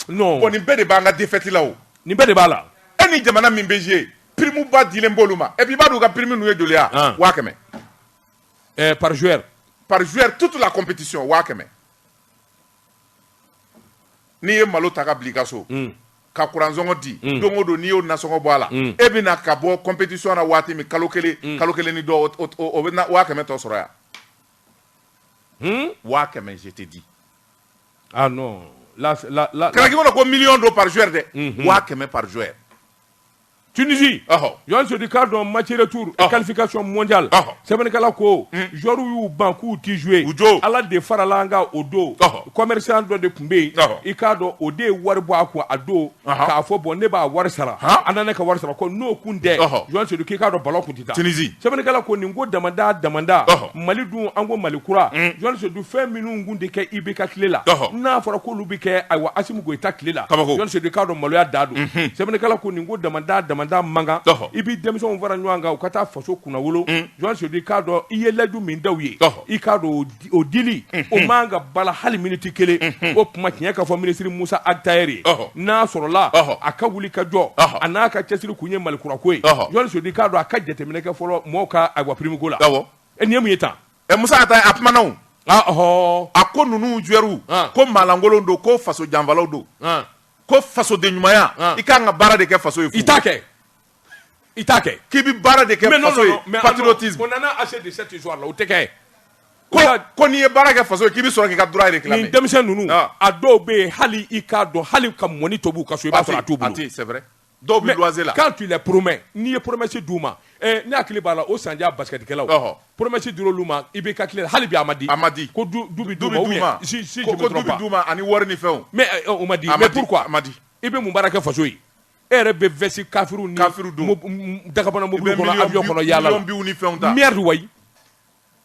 non bon nin bɛɛ de b'an ka défaite la o nin bɛɛ de b'a la e ni jamana min bɛ jouer prime ba dilen b'olu ma et puis i b'a dɔn u ka prime ninnu ye joli ye wa waa kɛmɛ par joueur par joueur toute la compétition waa kɛmɛ n'i ye malo ta ka bila i ka so mm. ka kuransɔngɔ di mm. don o don n'i y'o nasɔngɔ bɔ a la mm. e bɛ na ka bɔ compétition na waati min kalo kelen kalo kelen ni dɔ o bɛ na waa kɛmɛ tɔ sɔrɔ yan hmm? waa kɛmɛ je te dis ah non la la la kana k'i kɔnɔ ko million don par joueur dɛ waa kɛmɛ par joueur Tunisie ɔhɔ Jɔni Sedu k'a dɔn match retour Ɔhɔ. qualification mondiale Ɔhɔ. sɛbɛnnikɛla ko joueurs y'u ban k'u tɛ jouer U jo. Ala de farala an kan o don Ɔhɔ. commerçant dɔ de tun bɛ yen Ɔhɔ. i k'a dɔn o de ye wari bɔ a kun a don Ɔhɔ. k'a fɔ bon ne b'a wari sara Han. an na ne ka wari sara ko n'o kun tɛ Ɔhɔ. Jɔni Sedu k'i k'a dɔn ballon kun tɛ taa Tunisie. sɛbɛnnikɛla ko nin ko damada damada Ɔhɔ. Mali dun an ko Mali kura Jɔni Sedu fɛn minnu kun tɛ kɛ IBK tile la Ɔhɔ. n'a fɔra k'olu bɛ kɛ ayiwa Asimi Goyita tile la, kabako, Jɔni Sedu i k'a dɔn maloya dan don, unhun, sɛbɛnnikɛla ko nin ko damanda damanda man kan, ɔhɔ, i b'i denmisɛnw fara ɲɔgɔn kan u ka taa faso kunnawolo, un, Jɔni Sedu i k'a dɔn i ye layidu min da u ye, ɔhɔ, i k'a dɔn o dili, unhun, o man kan ka bala hali miniti kelen, unhun, o kuma tiɲɛ ka fɔ minisiri Musa Ag Attaher ye, ɔhɔ, n'a sɔrɔla, ɔhɔ, a ka wuli ka jɔ, ɔhɔ, a n'a ka cɛsiri kun ye Mali kura ko ye, ɔhɔ, Jɔni Sedu i k'a dɔn a ka jateminɛ kɛ fɔlɔ mɔɔw ka ayiwa prime ko la, awɔ, ɛ nin ye mun ye tan ɛ musa ata a kumana o ah, ɔhɔ a ko ninnu joueurw ah. ko maalankolon don ko faso janfalaw don ah. ko fasoden ɲumanya ah. i kan ka baara de kɛ faso ye i t'a kɛ i t'a kɛ k'i bɛ baara de kɛ faso ye patriotisme on en a assez de cette histoire là o tɛ kɛ ko ko n'i ye baara kɛ faso ye k'i bɛ sɔrɔ k'i ka droit réclamer nin denmisɛn ninnu ah. a dɔw bɛ yen hali i k'a dɔn hali ka mɔni tobi u ka so i b'a sɔrɔ a t'u bolo a tɛ c'est vrai Dɔw bɛ luwanse la mais quand tu les promets n'i ye promesse d'u ma, ɛ ne hakili b'a la o sanjaa basketikɛlaw, ɔhɔ, promesse dira olu ma IBK tile la hali bi a ma di, a ma di, ko du bɛ d'u ma ou bien si je ne me trompe pas, ko du bɛ d'u ma ani wari ni fɛnw, mais o ma di, mais pourquoi a ma di, i bɛ mun baara kɛ faso ye, e yɛrɛ bɛ veste kafiriw ni, kafiriw don, dagabana mɔbiliw kɔnɔ, avion kɔnɔ yaala la, i bɛ miliyɔn, miliyɔn biw ni fɛnw ta, merde wayi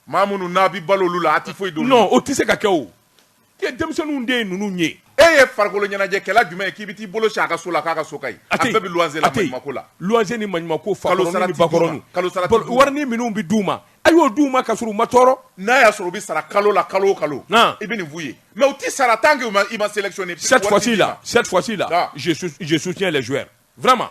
maa minnu n'a bɛ balo olu la a tɛ foyi don non o tɛ se ka kɛ o e denmisɛnninw de ye ninnu ye e ye farikolo ɲɛnajɛkɛla jumɛn ye k'i bɛ t'i bolo sin a ka so la k'a ka so ka ɲi a bɛɛ bɛ luwanse la maɲumako la luwanse ni maɲumako fakɔrɔni ni bakɔrɔni kalo sara warini minnu bɛ d'u ma a y'o d'u ma ka sɔrɔ u ma tɔɔrɔ n'a y'a sɔrɔ u bɛ sara kalo la kalo o kalo i bɛ nin f'u ye mais u tɛ sara tant que u ma i ma sélectionner cette fois-ci là cette fois-ci là je soutiens les joueurs vraiment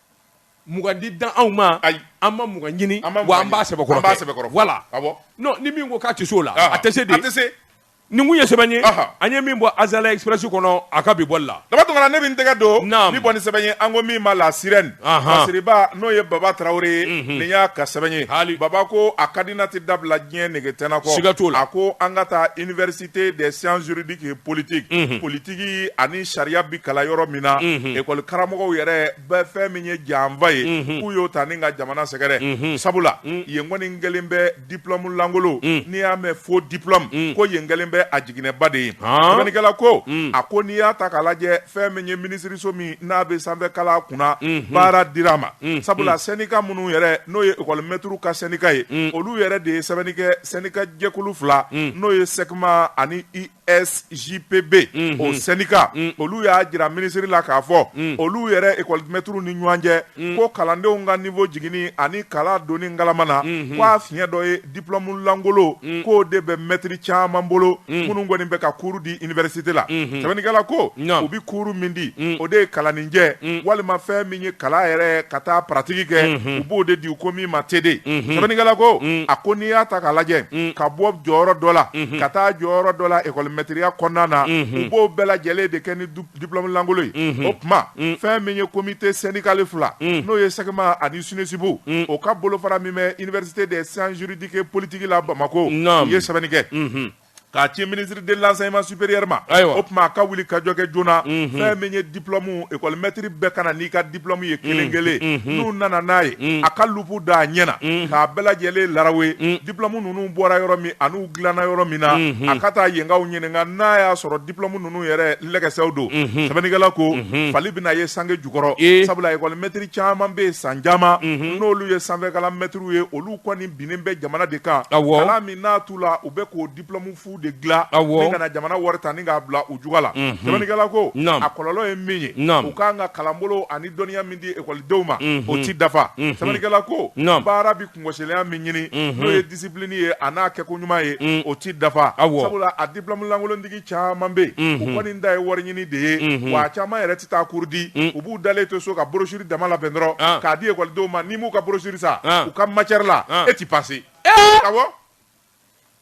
di dan anw ma ayi an ma mugan ɲini wa an b'a sɛbɛkɔrɔ voilà non ni min ko k'a tɛ se o la a tɛ se dɛ nin ye sɛbɛn ye an ye min bɔ azalaï express kɔnɔ a ka bi bɔli la daba tunkara ne bɛ n tɛgɛ don n bɛ bɔ ni sɛbɛn ye an ko min ma la sirène masiriba n'o ye baba tarawele ye nin y'a ka sɛbɛn ye hali baba ko a ka di n na tɛ dabila diɲɛ nege tɛna kɔ siga t'o la a ko an ka taa i université des sciences juridiques et politiques unhun politiki ani sariya bɛ kalan yɔrɔ min na Unhun. ekɔli karamɔgɔw yɛrɛ bɛɛ fɛn min ye janfa ye Unhun. k'u y'o ta ni ka jamana sɛgɛrɛ Unhun. sabula Mm. yen kɔni kɛlen bɛ diplɔmu lankolon Mm. n'i y'a mɛn faux diplɔmu Mm. ko yen kɛlen bɛ a jiginɛba de ye Han. sɛbɛnnikɛla ko Mm. a ko n'i y'a ta k'a lajɛ fɛn min ye minisiriso min n'a bɛ sanfɛ kalan kunna baara dira a ma sabula sendika minnu yɛrɛ n'o ye ekɔlimɛtiriw ka sendika ye olu yɛrɛ de ye sɛbɛnni kɛ sendika jɛkulu fila n'o ye sɛkima ani usjpb o sendika olu y'a jira minisiri la k'a fɔ olu yɛrɛ ekɔlimɛtiriw ni ɲɔgɔn cɛ ko kalandenw ka niveau jiginni ani kalan donni ngalama na k'a fiɲɛ dɔ ye diplomu lankolon mm. k'o de bɛ mɛtiri caman bolo mm. minnu kɔni bɛ ka kuuru di iniversite la mm-hmm. sɛbɛnnikɛla ko u bɛ kuuru min di mm. o de ye kalaninjɛ mm. walima fɛn min ye kalan yɛrɛ ka taa paratigi kɛ mm-hmm. u b'o de di u ko min ma tede mm-hmm. sɛbɛnnikɛla ko a ko n'i y'a ta k'a lajɛ ka bɔ jɔyɔrɔ dɔ la ka taa jɔyɔrɔ dɔ la ekɔlimɛtiriya kɔnɔna na u b'o bɛɛ lajɛlen de kɛ ni diplôme lankolon ye o tuma fɛn min ye comité syndical fila n'o ye SECMA ani SNESUP o ka bolofara min bɛ université des sciences juridiques et politiques la bamakɔ u ye sɛbɛnni kɛ k'a ci ministre de l'enseignement supérieur ma ayiwa o tuma a ka wulikajɔ kɛ joona fɛn min ye diplôme école maître bɛɛ ka na n'i ka diplôme ye kelen kelen n'u nana n'a ye a ka loupe da a ɲɛ na k'a bɛɛ lajɛlen laraw ye diplôme ninnu bɔra yɔrɔ min ani u dilanna yɔrɔ min na a ka taa yenkaw ɲininka n'a y'a sɔrɔ diplôme ninnu yɛrɛ lɛgɛsɛw don, unhun, sɛbɛnnikɛla ko, unhun, fali bɛna ye sange jukɔrɔ, ee, sabula école maître caman bɛ yen san caman, unhun, n'olu ye sanfɛkalan maîtres ye olu kɔni binnen bɛ jamana de kan, awɔ, kalan min n'a t'u la u bɛ k'o diplôme fu de dilan, awɔ, ni ka na jamana wari ta ni k'a bila u juga la, unhun, sɛbɛnnikɛla ko, naamu, a kɔlɔlɔ ye min ye, naamu, u ka kan ka kalanbolo ani dɔnniya min di école denw ma, unhun, o tɛ dafa, unhun, sɛbɛnnikɛla ko, naamu, baara bɛ kungosilenya min ɲini n'o ye discipline ye a n'a kɛko ɲuman ye o tɛ dafa sabula a diplôme lankolontigi caman bɛ yen u kɔni da ye wari ɲini de ye wa caman yɛrɛ tɛ taa cours di u b'u dalen to so ka brochure dama labɛn dɔrɔn k'a di ekɔlidenw ma n'i m'u ka brochure san u ka matière la e tɛ passer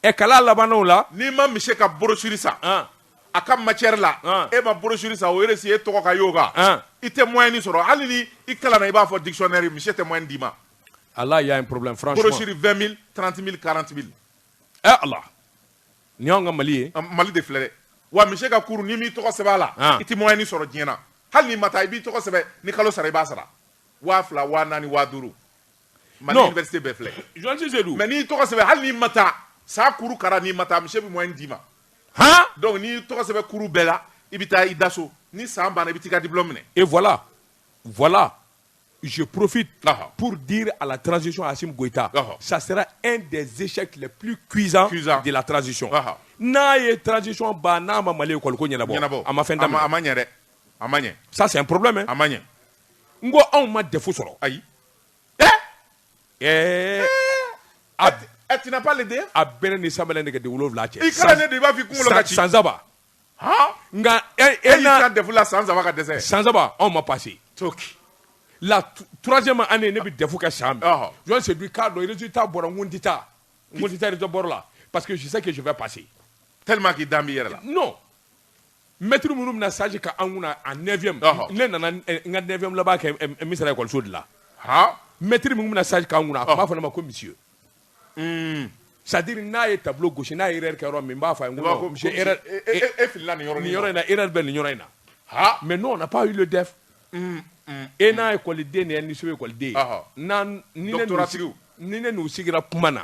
ɛ kala labanw la n'i ma mise ka borosiri san a ka macɛri la e ma borosiri san o si e tɔgɔ ka y'o kan i tɛ mɔ ni sɔrɔ hali ni i kalan i b'a fɔ disɔnɛ misi tɛ mɔ d'i ma ala y'a porobi furusiri vmi tranti karanti ɛ ala ni y'an ka mali ye mali de filɛ wa mi ka kurun ni mini tɔgɔ sɛbɛn a la i tɛ mɔ ni sɔrɔ diɲɛɲɛna hali ni ma taa i b'i tɔgɔ sɛbɛn ni kalo sara i b'a sara waa fila waa naani waadu mali Non. université bɛɛ filɛ Joël Cissé dun mais n'i tɔgɔ sɛbɛn hali n'i ma taa saa cours kara n'i ma taa monsieur bɛ moyenne d'i ma han donc n'i tɔgɔ sɛbɛn cours bɛɛ la i bɛ taa i da so ni san banna i bɛ t'i ka diplôme minɛ et voilà voilà je profite Aha. pour dire à la transition Assimi Goïta Aha. ça sera un des échecs les plus cuisants Cuisants. de la transition Aha. n'a ye transition ban n'a ma Mali école ko ɲɛnabɔ ɲɛnabɔ a ma fɛn a ma a daminɛ ma ɲɛ dɛ a ma ɲɛ ça c'est un problème hein. a ma ɲɛ n ko anw ma DEF sɔrɔ ayi ɛɛ a a tu n'as pas le DEF a bɛɛ ni Samuel ye nɛgɛden wolonwula cɛ. I kalannen de i b'a f'i kunkolo ka ci. San saba. Han. Nka e e na. E y'i kan DEF la san saba ka dɛsɛ. San saba anw ma passer. Toki. La troisième année ne bɛ DEF kɛ san min. Ɔhɔ. Je me suis dit k'a dɔn résultat bɔra n ko n tɛ taa. N ko n tɛ taa résultat bɔra la parce que je sais que je vais passer. Tellement que i dalen b'i yɛrɛ la. Non. Mɛtiri minnu bɛna stage kɛ an kunna en neuvième ne nana n ka neuvième laban kɛ Missira école sud la mɛtiri minnu bɛna stage kɛ an kunna a b'a fɔ ma ko monsieur c'est-à-dire n'a ye tableau gosi n'a ye erreur kɛ yɔrɔ min b'a fɔ e fili yɔrɔ yɔrɔ in erreur bɛ nin yɔrɔ in na mais non on n'a pas eu le DEF e n'a ye ekɔliden ni ye niso ekɔliden ni ne sigira kuma na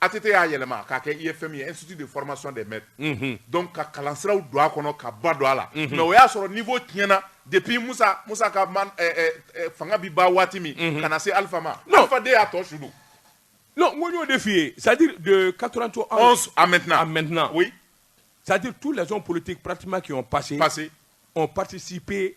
ATT y'a yɛlɛma k'a kɛ IFM ye Institut de formation des maîtres unhun donc ka kalansiraw don a kɔnɔ ka ba don a la unhun mais o y'a sɔrɔ niveau tiɲɛna depuis Musa Musa ka man ɛ ɛ ɛ fanga bi ban waati min unhun ka na se Alpha ma non Alpha de y'a tɔ su don non n ko n y'o de f'i ye c'est à dire de 91 à maintenant à maintenant oui c'est à dire tous les hommes politiques pratiquement qui ont passé passé ont participé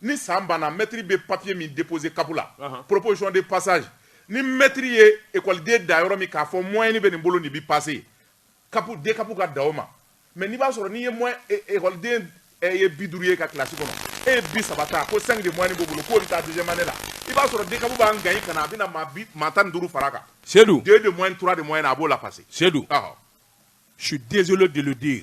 Ni san banna mɛtiri bɛ papiye min déposer CAP la proposition de passage ni mɛtiri ye ekɔliden da yɔrɔ min k'a fɔ moyenne nin bɛ nin bolo nin bɛ passer CAP DCAP ka dan o ma mais n'i b'a sɔrɔ n'i ye ekɔliden ye bi duuru y'i ka kilasi kɔnɔ e ye bi saba ta ko cinq de moyenne b'u bolo k'u bɛ taa deuxième année la i b'a sɔrɔ DCAP b'a ŋaniya ka na a bɛna maa tan duuru fara a kan Seydou deux de moyenne trois de moyenne a b'u lapasser Seydou je suis désolé de le dire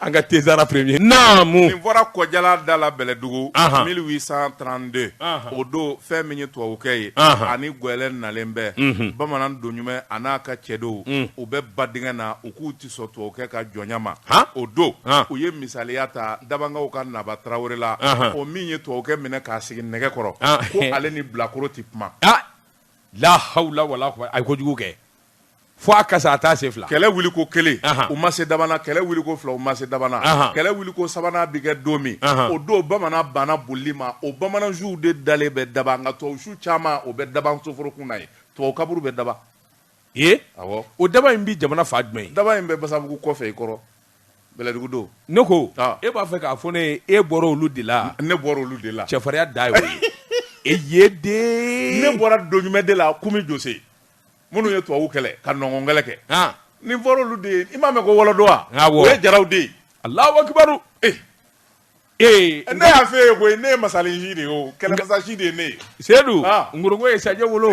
an ka tezsara premier naamu nin fɔra Kɔjalan da la bɛlɛdugu mille huit cent trente-deux o don fɛn min ye tubabukɛ ye ani gɛlɛ nalen bɛɛ bamanan Doɲumɛ a n'a ka cɛdenw u bɛ ba dingɛ na u k'u tɛ sɔn tubabukɛ ka jɔnya ma o don u ye misaliya ta Dabankaw ka naba tarawele la o min ye tubabukɛ minɛ k'a sigi nɛgɛ kɔrɔ ko ale ni bilakoro tɛ kuma lahawula wala a ye kojugu kɛ fo a kasa a t'a se fila kɛlɛ wuli ko kelen u ma se Daban na kɛlɛ wuli ko fila u ma se Daban na kɛlɛ wuli ko sabanan bi kɛ don min o don bamanan banna bolili ma o bamanan suw de dalen bɛ Daban nka tubabusu caman o bɛ Daban soforokun na yen tubabu kaburu bɛ Daban yen o Daban in bɛ jamana fan jumɛn ye Daban in bɛ basabugu kɔfɛ i kɔrɔ bɛlɛdugu don ne ko e b'a fɛ k'a fɔ ne ye e bɔra olu de la ne bɔra olu de la cɛfarinya dan ye o ye dɛ ne bɔra Doɲumɛ de la Kumi Jose minnu ye tubabu kɛlɛ ka Nɔnkɔn kɛlɛ kɛ han nin fɔra olu de ye i m'a mɛn ko wɔlɔdɔ wa Awɔ. o ye jaraw de ye alahu akibaru Eh. ee ne y'a f'e ye koyi ne ye masalensi de ye o kɛlɛmasasi de ye ne ye Seydou Ah. ngorongo ye sajɛ wolo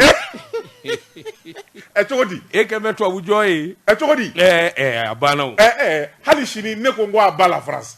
ɛ cogo di e kɛlen bɛ tubabu jɔn ye ɛ cogo di ɛɛ ɛɛ a banna o ɛ ɛ hali sini ne ko n ko à bas la France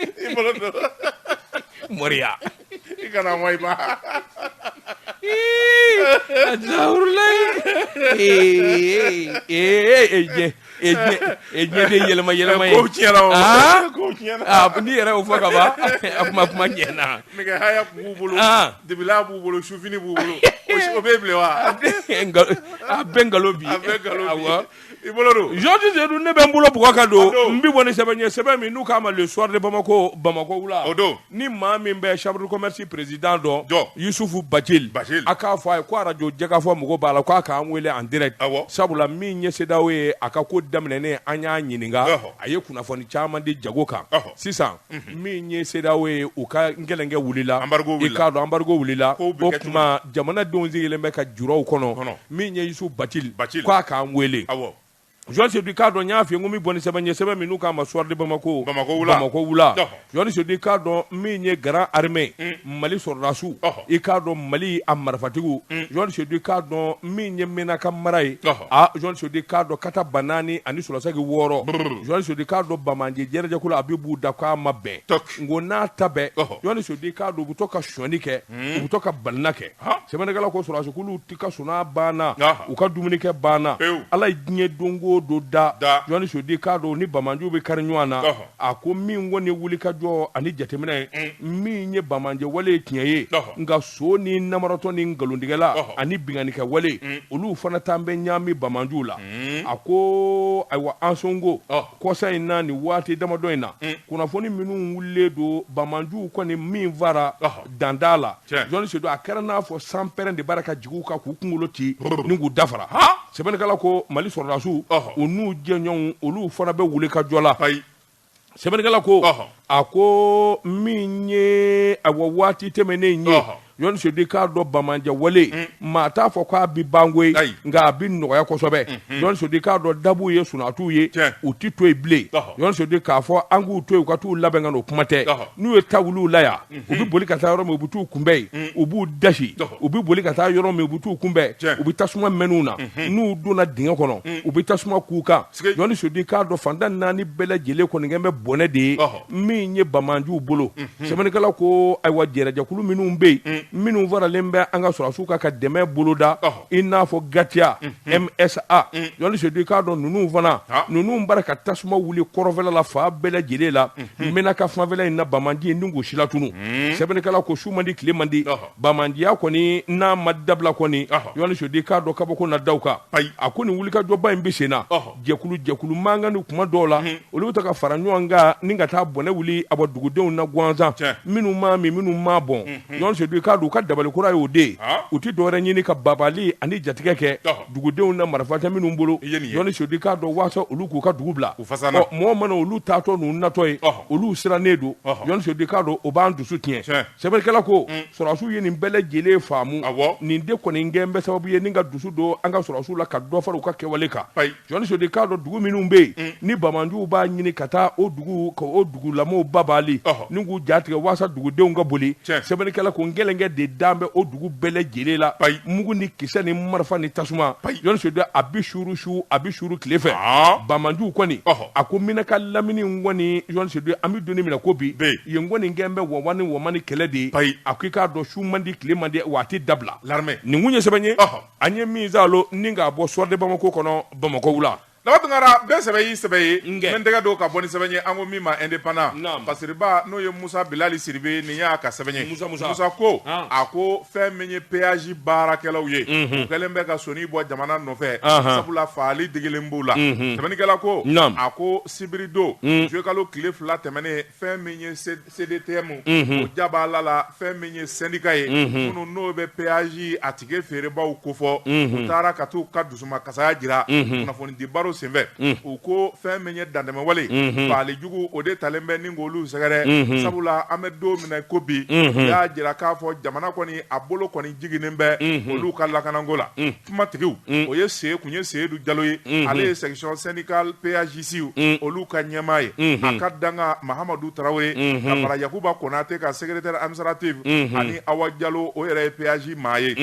I bolo don. Moriya. I kana mɔ i ba. Azawurulayi. Ee ee ee jɛ ee jɛ ee jɛ de yɛlɛma yɛlɛma ye. Kow tiɲɛna o. Aa kow tiɲɛna. Aa n'i yɛrɛ y'o fɔ ka ban a kuma kuma ɲɛna. Nɛgɛ haya b'u bolo. Aa dibilan b'u bolo sufini b'u bolo o bɛ bilen wa. A bɛɛ nkalon bi. A bɛɛ nkalon bi. Awɔ. I bolo don Georges Seydou ne bɛ n bolo bugɔ ka don n bɛ bɔ ni sɛbɛn ye sɛbɛn min n'u k'a ma le soir de Bamako Bamakɔ wula o don ni maa min bɛ chambre de commerce président don don Yusufu Bacili Bacili a k'a fɔ a ye ko arajo Jɛkafɔ mago b'a la k'a k'an wele en direct awɔ sabula min ye CEDEAO ye a ka ko daminɛnen an y'a ɲininka ɔhɔ a ye kunnafoni caman di jago kan ɔhɔ sisan min ye CEDEAO ye u ka nkɛlɛnkɛ wulila, embargo wulila, i k'a dɔn embargo wulila, kow bɛ kɛ cogo di, o tuma jamanadenw sigilen bɛ ka jurɔw kɔnɔ, min ye Yusufu Batili k'a k'an wele, awɔ, Jɔni Sedu i k'a dɔn n y'a f'i ye ko n bɛ bɔ ni sɛbɛn ye sɛbɛn min n'u k'a ma soir de Bamako, Bamako wula, Bamako wula, Jɔni Sedu i k'a dɔn min ye grande armée mali sɔrɔdasiw Ɔhɔ. i k'a dɔn mali a marifatigiw Jɔni Sedu i k'a dɔn min ye Menaka mara ye Ɔhɔ. a Jɔni Sedu i k'a dɔn kata banaani ani sɔrɔsagi wɔɔrɔ Brrr. Jɔni Sedu i k'a dɔn banbaanci jɛrɛjɛkulu a bɛ b'u da k'a ma bɛn Tɔk. nko n'a ta bɛɛ Ɔhɔ. Jɔni Sedu i k'a dɔn u bɛ to ka sɔni kɛ u bɛ to ka balina kɛ Ha. sɛbɛnnikɛla ko sɔrɔdasikuluw ti ka sunaa banna Aha. u ka dumunikɛ banna Pewu. ala ye diɲɛ don o don da Da. Jɔni Sedu i k'a dɔn u ni banbaanciw bɛ kari ɲɔgɔn na Ɔhɔ. a ko min kɔni ye wulikajɔ ani jateminɛ ye mm. min ye banbaanci wale ye tiɲɛ ye nka son ni namaratɔ ni nkalontigɛla ani binkannikɛ wale mm. olu fana tan bɛ ɲaami banbaanciw la mm. a ko ayiwa Ansongo kɔsa in na ni waati damadɔ in na kunnafoni minnu wulilen don banbaanciw kɔni min fara danda la Jɔni Sedu a kɛra n'a fɔ sanpɛrɛn de bara ka jigin u kan k'u kunkolo ci ni k'u dafara sɛbɛnnikɛla ko Mali sɔrɔdasiw u n'u jɛɲɔgɔnw olu fana bɛ wulikajɔ la sɛbɛnnikɛla ko a ko min ye awa waati tɛmɛnnen ye Jɔni Sedu i k'a dɔn banbaanci wale mm. maa t'a fɔ k'a bi ban koyi nka a bi nɔgɔya kosɛbɛ mm-hmm. Jɔni Sedu i k'a dɔn da b'u ye sunaa t'u ye u ti to yen bilen Jɔni Sedu k'a fɔ an k'u to yen u ka t'u labɛn ka n'o kuma tɛ n'u ye ta wuli u la yan u bɛ boli ka taa yɔrɔ min u bɛ taa u kunbɛn yen u b'u dasi u bɛ boli ka taa yɔrɔ min u bɛ taa u kunbɛn u bɛ tasuma mɛnɛ u na n'u donna dingɛ kɔnɔ u bɛ tasuma k'u kan Jɔni Sedu i k'a dɔn fan tan ni naani bɛɛ lajɛlen kɔni kɛlen bɛ bɔnɛ de ye min ye banbaanciw bolo sɛbɛnnikɛla ko ayiwa jɛrɛjɛkulu minnu bɛ yen minnu faralen bɛ an ka sɔrɔdasiw kan ka dɛmɛ boloda i n'a fɔ GATIA MSA Jɔni Sedu i k'a dɔn ninnu fana ninnu bara ka tasuma wuli kɔrɔfɛla la fan bɛɛ lajɛlen la Hmm. Menaka fanfɛla in na banbaanci ye ni k'u silatunu hmm. sɛbɛnnikɛla ko su man di tile man di banbaanciya kɔni n'a ma dabila kɔni Jɔni Sedu i k'a dɔn kabako na da u kan a ko nin wulikajɔba in bɛ sen na jɛkulu jɛkulu mankan ni kuma dɔw la hmm. olu bɛ taa ka fara ɲɔgɔn kan ni ka taa bɔnɛ wuli a bɔ dugudenw na gansan minnu m'a min minnu m'a bɔn Jɔni Sedu i k'a dɔn u ka dabali kura y'o de ye u tɛ dɔwɛrɛ ɲini ka baabaali ani jatigɛ kɛ dugudenw na marifa tɛ minnu bolo I ye nin ye Jɔni Sedu i k'a dɔn waasa olu k'u ka dugu bila u fasana ɔ mɔɔ mana olu taatɔ n'u natɔ ye ɔhɔ olu sirannen don ɔhɔ Jɔni Sedu i k'a dɔn o b'an dusu tiɲɛ tiɲɛ sɛbɛnnikɛla ko un sɔrɔdasiw ye nin bɛɛ lajɛlen faamu awɔ nin de kɔni kɛlen bɛ sababu ye ni ka dusu don an ka sɔrɔdasiw la ka dɔ fara u ka kɛwale kan ayi Jɔni Sedu i k'a dɔn dugu minnu bɛ yen un ni banbaanciw b'a ɲini ka taa o duguw ka o dugulamɔɔw baabaali ɔhɔ ni k'u ja tigɛ waasa dugudenw ka boli tiɲɛ sɛbɛnnikɛla ko nkɛlɛnkɛ de dalen bɛ o dugu bɛɛlɛ lajɛlen la ayi mugu ni kisɛ ni marifa ni tasuma ayi Jean Seydou a bi suuru su a bi suuru tile fɛ bamanjuw kɔni a ko menaka lamini kɔni Jean Seydou an bɛ don min na i ko bi yen kɔni kɛlen bɛ wɔwa ni wɔma ni kɛlɛ de ye ayi a ko i k'a dɔn su man di tile man di wa a tɛ dabila lamɛ nin kun ye sɛbɛn ye an ye min zalo ni k'a bɔ Soir de Bamako kɔnɔ bamakɔ wula Lama tunkara bɛ sɛbɛn y'i sɛbɛn ne bɛ n tɛgɛ don ka bɔ ni sɛbɛn ye an ko min ma Indépendant basiriba n'o ye musa bilali sidibe nin y'a ka sɛbɛn ye musa ko a ko fɛn min ye péage baarakɛlaw ye o kɛlen bɛ ka sɔn bɔ jamana nɔfɛ sabula faali digilen b'u la sɛbɛnnikɛla ko a ko sibiridon jokalo tile fila tɛmɛnen fɛn min ye CDTM unhun o ja b'a la la fɛn min ye syndicat ye unhun minnu n'o bɛ péage a ticket feerebaaw kofɔ unhun u taara ka t'u ka dusumakasaya jira unhun kunnafonidi baro senfɛ unhun u ko fɛn min ye dantɛmɛwale unhun fagali jugu o de talen bɛ ni k'olu sɛgɛrɛ unhun sabula an bɛ don min na i ko bi unhun u y'a jira k'a fɔ jamana kɔni a bolo kɔni jiginnen bɛ unhun olu ka lakananko la unhun kumatigiw mm. o ye se tun ye seyidu jalo ye mm-hmm. ale ye section syndicale péagistes mm. olu ka ɲɛmaa ye mm-hmm. a ka dankan mahamadu tarawele mm-hmm. ka fara yakuba konate kan secrétaire administratif ani awa jalo o yɛrɛ ye péage maa ye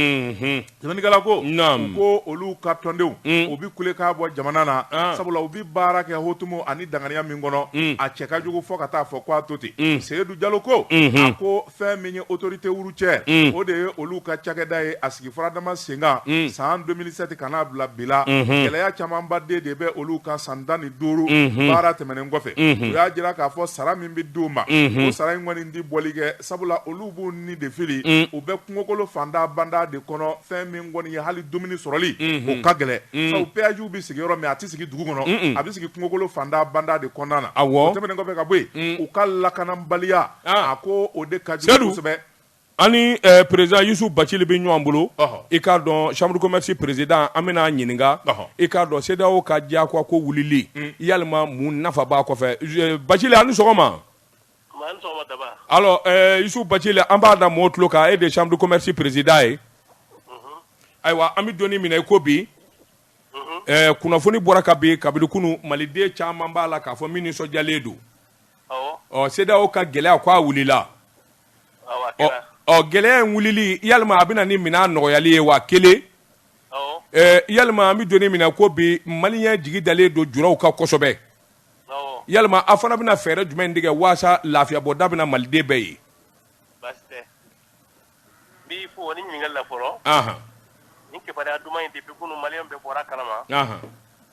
sɛbɛnnikɛla ko u ko olu ka tɔndenw mm. u bi kule k'a bɔ jamana na ah. sabula u bi baara kɛ hotumu ani danganiya min kɔnɔ a cɛ ka jugu fo ka t'a fɔ ko a to ten seyidu jalo ko a ko fɛn min ye autorité routière mm. o de ye olu ka cakɛda ye a sigi faradama senkan mm. san 2007 ka n'a bila bi la mm-hmm. gɛlɛya camanba de de bɛ olu kan san tan ni duuru mm-hmm. baara tɛmɛnen kɔfɛ mm-hmm. u y'a jira k'a fɔ sara min bɛ di u ma o sara in kɔni tɛ bɔli kɛ sabula olu b'u ni de fili mm. u bɛ kungokolo fanda banda de kɔnɔ fɛn min kɔni ye hali dumuni sɔrɔli o ka gɛlɛn sabu péagew bɛ sigi yɔrɔ min a tɛ sigi dugu kɔnɔ a bɛ sigi kungokolo fanda banda de kɔnɔna na o tɛmɛnen kɔfɛ ka bɔ yen u ka lakananbaliya a ko o de ka jugu sɛbɛ an ni président yusufu bacili bɛ ɲɔgɔn bolo i k'a dɔn chambre de commerce président an bɛna a ɲininka i k'a dɔn CEDEAO ka diyagoya ko wulili yalama mun nafa b'a kɔfɛ bacili aw ni sɔgɔma yusufu bacili an b'a da maaw tulo kan e de chambre de commerce président ye ayiwa an bɛ don min na i ko bi kunnafoni bɔra ka bin kabini kunun maliden caman b'a la k'a fɔ min nisɔndiyalen don ɔ CEDEAO ka gɛlɛya k'a wulila ɔ gɛlɛya in wulili yalama a bɛna ni minɛn nɔgɔyali ye wa kelen yalama an bɛ don min na i ko bi maliyɛn jigi dalen don juraw kan kosɛbɛ yalama aw fana bɛna fɛɛrɛ jumɛn tigɛ walasa lafiya bɔ da bɛna maliden bɛɛ ye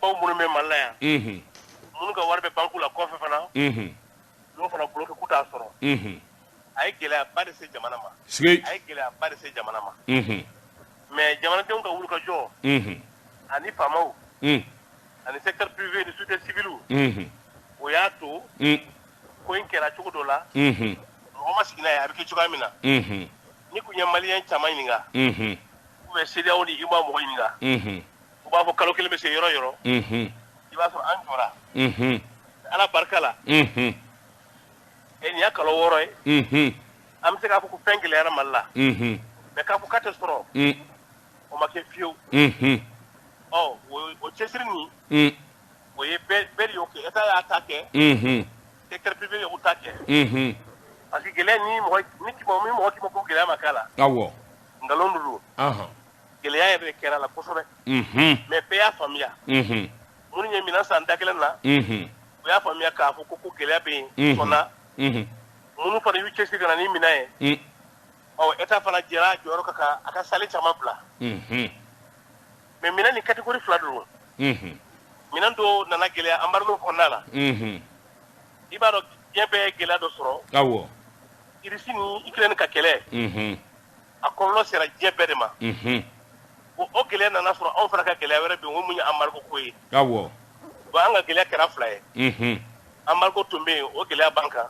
baw minnu bɛ mali la yan minnu ka wari bɛ banki la kɔfɛ fana n'o fana bloqué k'u t'a sɔrɔ a ye gɛlɛya ba de se jamana ma a ye gɛlɛya ba de se jamana ma mais jamanadenw ka wulikajɔ ani faamaw ani secteur privé ni société civile o y'a to ko in kɛra cogo dɔ la mɔgɔ ma sigi n'a ye a bɛ kɛ cogoya min na n'i tun ye malien caman ɲininka ou bien CEDEAO ni UEMOA mɔgɔ ɲininka u b'a fɔ kalo kelen bɛ se yɔrɔ yɔrɔ i b'a sɔrɔ an jɔra ala barika la nin y'a kalo wɔɔrɔ ye an bɛ se k'a fɔ ko fɛn gɛlɛyara mali la mais k'a fɔ k'a tɛ sɔrɔ o ma kɛ fiyewu ɔ o cɛsiri nin o ye bɛɛ de y'o kɛ état y'a ta kɛ secteur privé ye u ta kɛ unhun parce que gɛlɛya ni mɔgɔ ni k'i ma ni mɔgɔ k'i ma ko gɛlɛya ma k'a la awɔ nkalon don ɔhɔn gɛlɛya yɛrɛ de kɛra la kosɛbɛ unhun mais bɛɛ y'a faamuya unhun minnu ye minan san da kelen na unhun u y'a faamuya k'a fɔ ko ko gɛlɛya bɛ yen Mhm. sɔnna unhun minnu fana y'u cɛsiri ka na ni minan ye un ɔ état fana jɛra a jɔyɔrɔ kɔ ka a ka sale caman bila unhun mais minɛn nin catégorie fila don minɛn dɔ nana gɛlɛya embargo kɔnɔna la i b'a dɔn diɲɛ bɛɛ ye gɛlɛya dɔ sɔrɔ irisi ni Ukraine ka kɛlɛ a kɔlɔlɔ sera diɲɛ bɛɛ de ma o o gɛlɛya nana sɔrɔ anw fana ka gɛlɛya wɛrɛ bɛ yen o mun ye embargo ko ye bon an ka gɛlɛya kɛra fila ye embargo tun bɛ yen o gɛlɛya b'an kan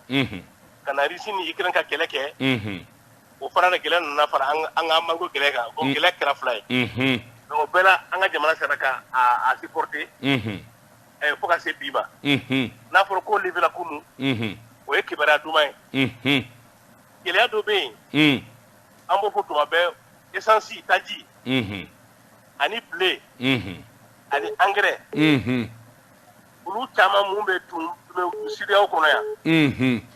ka na irisi ni Ukraine ka kɛlɛ kɛ o fana ni gɛlɛya nana fara an ka embargo gɛlɛya kan o gɛlɛya kɛra fila ye donc o bɛɛ la an ka jamana sera ka a supporter fo ka se bi ma n'a fɔra ko levela kunun o ye kibaruya duman ye gɛlɛya dɔ bɛ yen an b'o fɔ tuma bɛɛ esansi taji ani blé ani angɛrɛ olu caman minnu bɛ tun CEDEAO kɔnɔ yan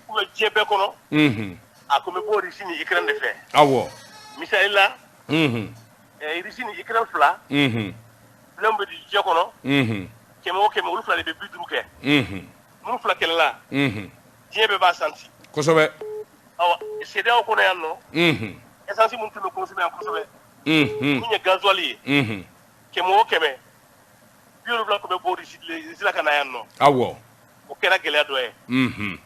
ou bien diɲɛ bɛɛ kɔnɔ a tun bɛ bɔ irisi ni Ukraine de fɛ awɔ misali la irisi ni Ukraine fila blé min bɛ di diɲɛ kɔnɔ kɛmɛ o kɛmɛ olu fila de bɛ bi duuru kɛ minnu fila kɛlɛla diɲɛ bɛɛ b'a santi kosɛbɛ CEDEAO kɔnɔ yan nɔ ɛsansi minnu tun bɛ consommer yan kosɛbɛ min ye gazuwali ye kɛmɛ o kɛmɛ bi wolonwula tun bɛ bɔ Russie la ka na yan nɔ awɔ o kɛra gɛlɛya dɔ ye mhm.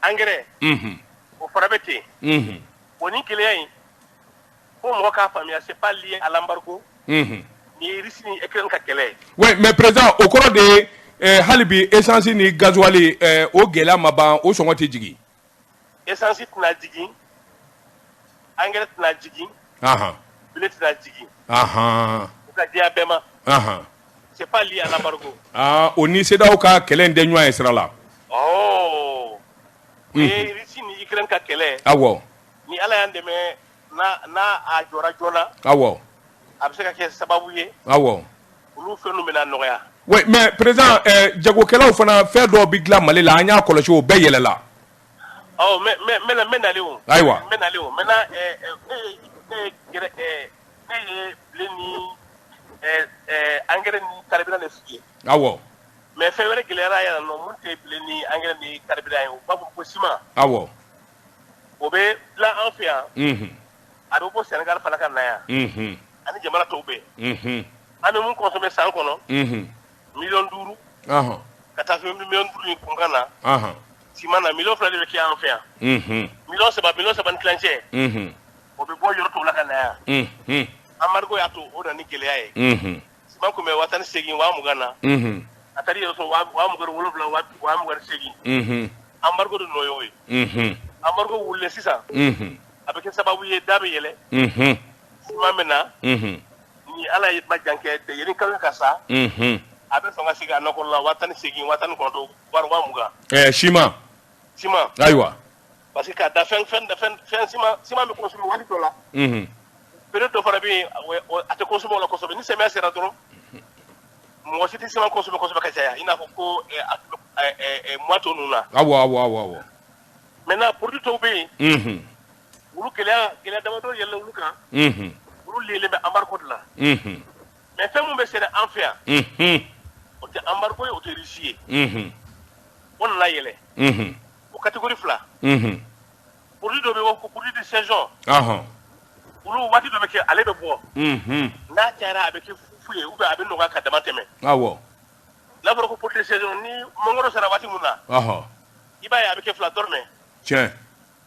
angɛrɛ mhm. o fana bɛ ten mhm. o ni gɛlɛya in fo mɔgɔ k'a faamuya c'est pas lié à l'embargo ni Russie ni Ukraine ka kɛlɛ ye oui mais président o kɔrɔ de ye hali bi essence ni gasoil o gɛlɛya ma ban o sɔngɔ tɛ jigin essence tɛna jigin engrais tɛna jigin blé tɛna jigin o ka diya bɛɛ ma c'est pas lié à l'embargo ah o ni CEDEAO ka kɛlɛ in tɛ ɲɔgɔn ye sira la ɔɔ o ye Russie ni Ukraine ka kɛlɛ awɔ ni Ala y'an dɛmɛ a jɔ joona aw a bɛ se ka kɛ sababu ye aw olu fɛn bɛna nɔgɔya mɛ perez jagokɛlaw fana fɛn dɔ bɛ dilan mali la an y'a kɔlɔsi o bɛɛ yɛlɛla ayiwa an kari aw mɛ fɛn wɛrɛ gɛlɛyayara yɛrɛ ni an kari ye ba ko sima aw o bɛ dilan an fɛ yan a bɛ bɔ Sénégal fana ka na yan ani jamana tɔw bɛɛ an bɛ mun consommé san kɔnɔ million duuru ka taa se million duuru ni kunkan na siman na million fila de bɛ kɛ an fɛ yan million saba million saba ni tilancɛ o bɛ bɔ yɔrɔ tɔw la ka na yan embargo y'a to o nana ni gɛlɛya ye siman tun bɛ waa tan ni segin waa mugan na a taara yɛrɛ sɔrɔ waa mugan wolonwula waa mugan segin embargo de nɔ y'o ye embargo wulila sisan a bɛ kɛ sababu ye da bɛ yɛlɛ siman maintenant ni Ala ye ba jan kɛ tɛ yanni kalo ka sa a bɛ sɔn ka sigi a nɔ kɔrɔ la waa tan ni segin waa tan ni kɔnɔntɔn waa mugan siman siman ayiwa parce que k'a da fɛn fɛn da fɛn fɛn siman siman bɛ consommé waati dɔ la unhun période dɔ fana bɛ yen o- o- a tɛ consommé o la kosɛbɛ ni samiya sera dɔrɔn mɔgɔ si tɛ siman consommé kosɛbɛ ka caya i n'a fɔ ko eh, a tun bɛ- eh, eh, eh, mois tɔ ninnu na awɔ awɔ awɔ awɔ maintenant produit dɔw bɛ yen unhun olu gɛlɛya gɛlɛya damadɔ yɛlɛla olu kan unhun olu liyelen bɛ embargo de la unhun mais fɛn min bɛ sɛnɛ an fɛ yan unhun o tɛ embargo ye o tɛ Russie ye unhun o nana yɛlɛ unhun o catégorie fila unhun produit dɔ bɛ yen ko produit de saison ɔhɔn olu waati dɔ bɛ kɛ ale bɛ bɔ unhun n'a cayara a bɛ kɛ fu ye ou bien a bɛ nɔgɔya ka dama tɛmɛ awɔ n'a fɔra ko produit de saison ni mangoro sera waati min na ɔhɔn i b'a ye a bɛ kɛ fila dɔrɔmɛ tiɲɛ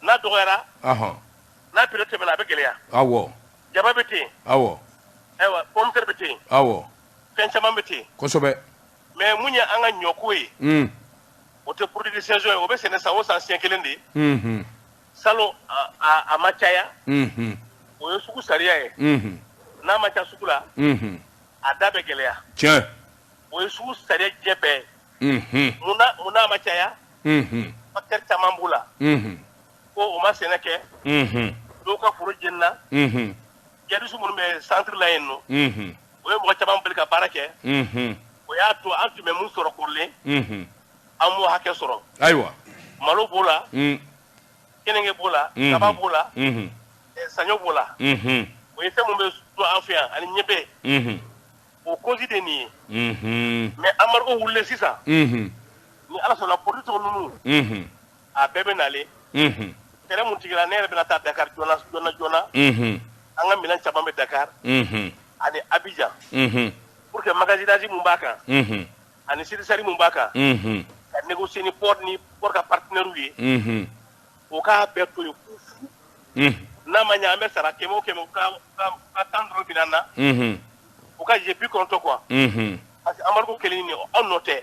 n'a dɔgɔyara ɔhɔn n'a période tɛmɛna a bɛ gɛlɛya awɔ jaba bɛ ten awɔ ayiwa pomme de terre bɛ ten awɔ fɛn caman bɛ ten kosɛbɛ mais mun ye an ka ɲɔko ye hmm. o tɛ produit de saison ye o bɛ sɛnɛ san o san siɲɛ kelen de ye hmm. salon a ma caya hmm. o ye sugu sariya ye n'a ma caya sugu la a da bɛ gɛlɛya tiɲɛ o ye sugu sariya diɲɛ bɛɛ mun na mun n'a ma caya facteur caman b'o la ko o ma sɛnɛ kɛ dɔw ka foro jenina djihadistes minnu bɛ centre la yen nɔ o ye mɔgɔ caman bali ka baara kɛ o y'a to an tun bɛ min sɔrɔ kɔrɔlen an m'o hakɛ sɔrɔ ayiwa malo b'o la keninge b'o la kaba b'o la saɲɔ b'o la o ye fɛn min bɛ dun an fɛ yan ani niébé o cause de nin ye mais embargo wulilen sisan ni ala sɔnna produit ninnu a bɛɛ bɛ na lɛtɛrɛ min jigira ne yɛrɛ bɛna taa dakari joona joona joona an ka minɛn caman bɛ dakari ani abijan pour que magasinage min b'a kan ani surestarie min b'a kan ka négocier ni port ni port ka partenaires ye u k'a bɛɛ to yen fu fu n'a ma ɲɛ an bɛ sara kɛmɛ o kɛmɛ u ka tan dɔrɔn minɛ an na u ka jɛn bi kɔnɔntɔn kɔ parce que embargo kɛlen nin an nɔ tɛ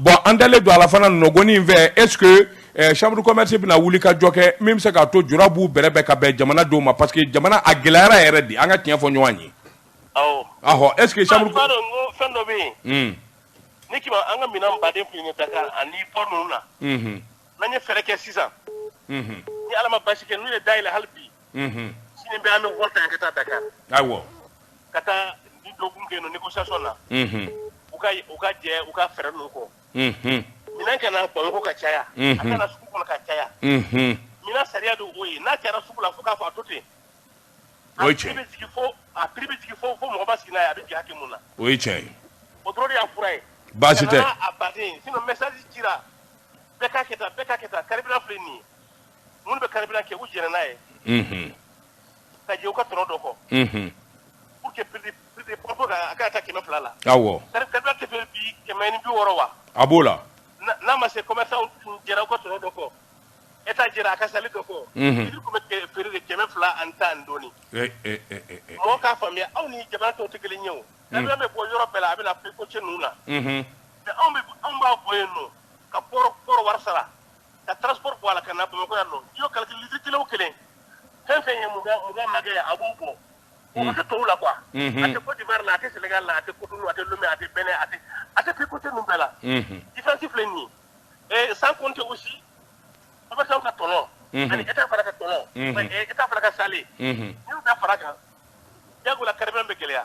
bon an dalen don a la fana nɔgɔni in fɛ est ce que eh, chambre commerce bɛna wuli ka cogo kɛ min bɛ se k'a to jura b'u bɛrɛbɛn ka bɛn jamanadenw ma parce que jamana a gɛlɛyara yɛrɛ de an ka tiɲɛ fɔ ɲɔgɔn ye ahɔ est ce que chambre b'a dɔn ko fɛn dɔ bɛ yen ni kima an ka minɛn baden kun ye dakar ani port ninnu na n'an ye fɛɛrɛ kɛ sisan ni ala ma baasi kɛ n'u y'a dayɛlɛ hali bi sini bɛɛ an bɛ vol ta ka taa Dakar awɔ ka taa ni dɔgɔkun kɛ yen nɔ négociation na u ka u ka jɛn u ka frais ninnu kɔ minɛn ka na Bamakɔ ka caya a ka na sugu kɔnɔ ka caya minɛn sariya de o ye n'a cayara sugu la fo k'a fɔ a to ten o ye tiɲɛ ye a bɛ jigin fo a prix bɛ jigin fo fo mɔgɔ ma sigi n'a ye a bɛ jigin hakɛ min na o ye tiɲɛ ye o dɔrɔn de y'a fura ye baasi tɛ a baden sinon message cira bɛɛ k'a kɛ tan bɛɛ k'a kɛ tan carburant filɛ nin ye minnu bɛ kariina kɛ u jɛnɛ n'a ye ka u ka tɔnɔ dɔ kɔ ka ta kɛmɛ fila la kɛmɛ ni bi wɔɔrɔ wa a b'o la n'a ma se ka tɔnɔ dɔ kɔ e t' jira a ka seli dɔ kɔ bɛ kɛmɛ fila ani tan dɔɔnin mɔgɔ k'a faamuya aw ni jama tɔ tɛ kelen ye o bɛ bɔ yɔrɔ bɛɛ la a bɛ ko cɛ ninnu na anw b'a bɔ yen don ka wari sara ka transport bɔ a la ka na bamakɔ yan nɔ i y'o calculer litiri kelen o kelen fɛn fɛn ye mugan mugan n'a kɔ ye a b'o bɔ o ma kɛ tɔw la quoi a tɛ Côte d'Ivoire la a tɛ Sénégal la a tɛ Cotonou a tɛ Lomé a tɛ Benin a tɛ a tɛ pays côtiers ninnu bɛɛ la différence filɛ nin ye et sans compter aussi commerçant ka tɔnɔ ani état fana ka tɔnɔ eh, état fana ka saalen n'i y'u bɛɛ fara a kan jagoya la carburant bɛ gɛlɛya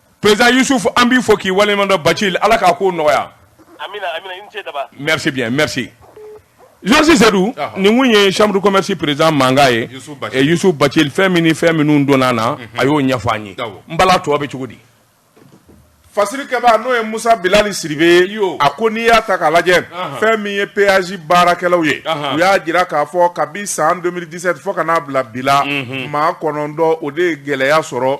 Président Yusuf an b'i fo k'i waleɲumandɔn Bacili Ala k'a kow nɔgɔya. Amina amina i ni ce daba. Merci bien merci. Jɔsi Sedu, nin kun ye chambre de commerce président mankan ye Yusuf Bacili fɛn min ni fɛn minnu donna an na, a y'o ɲɛfɔ an ye. N Bala a tɔ bɛ cogo di? Fasirikɛbaa n'o ye Musa Bilali Sidibe ye, a ko n'i y'a ta k'a lajɛ, fɛn min ye péage baarakɛlaw ye, u y'a jira k'a fɔ kabi san 2017 fo ka n'a bila bi la, maa kɔnɔntɔn o de ye gɛlɛya sɔrɔ.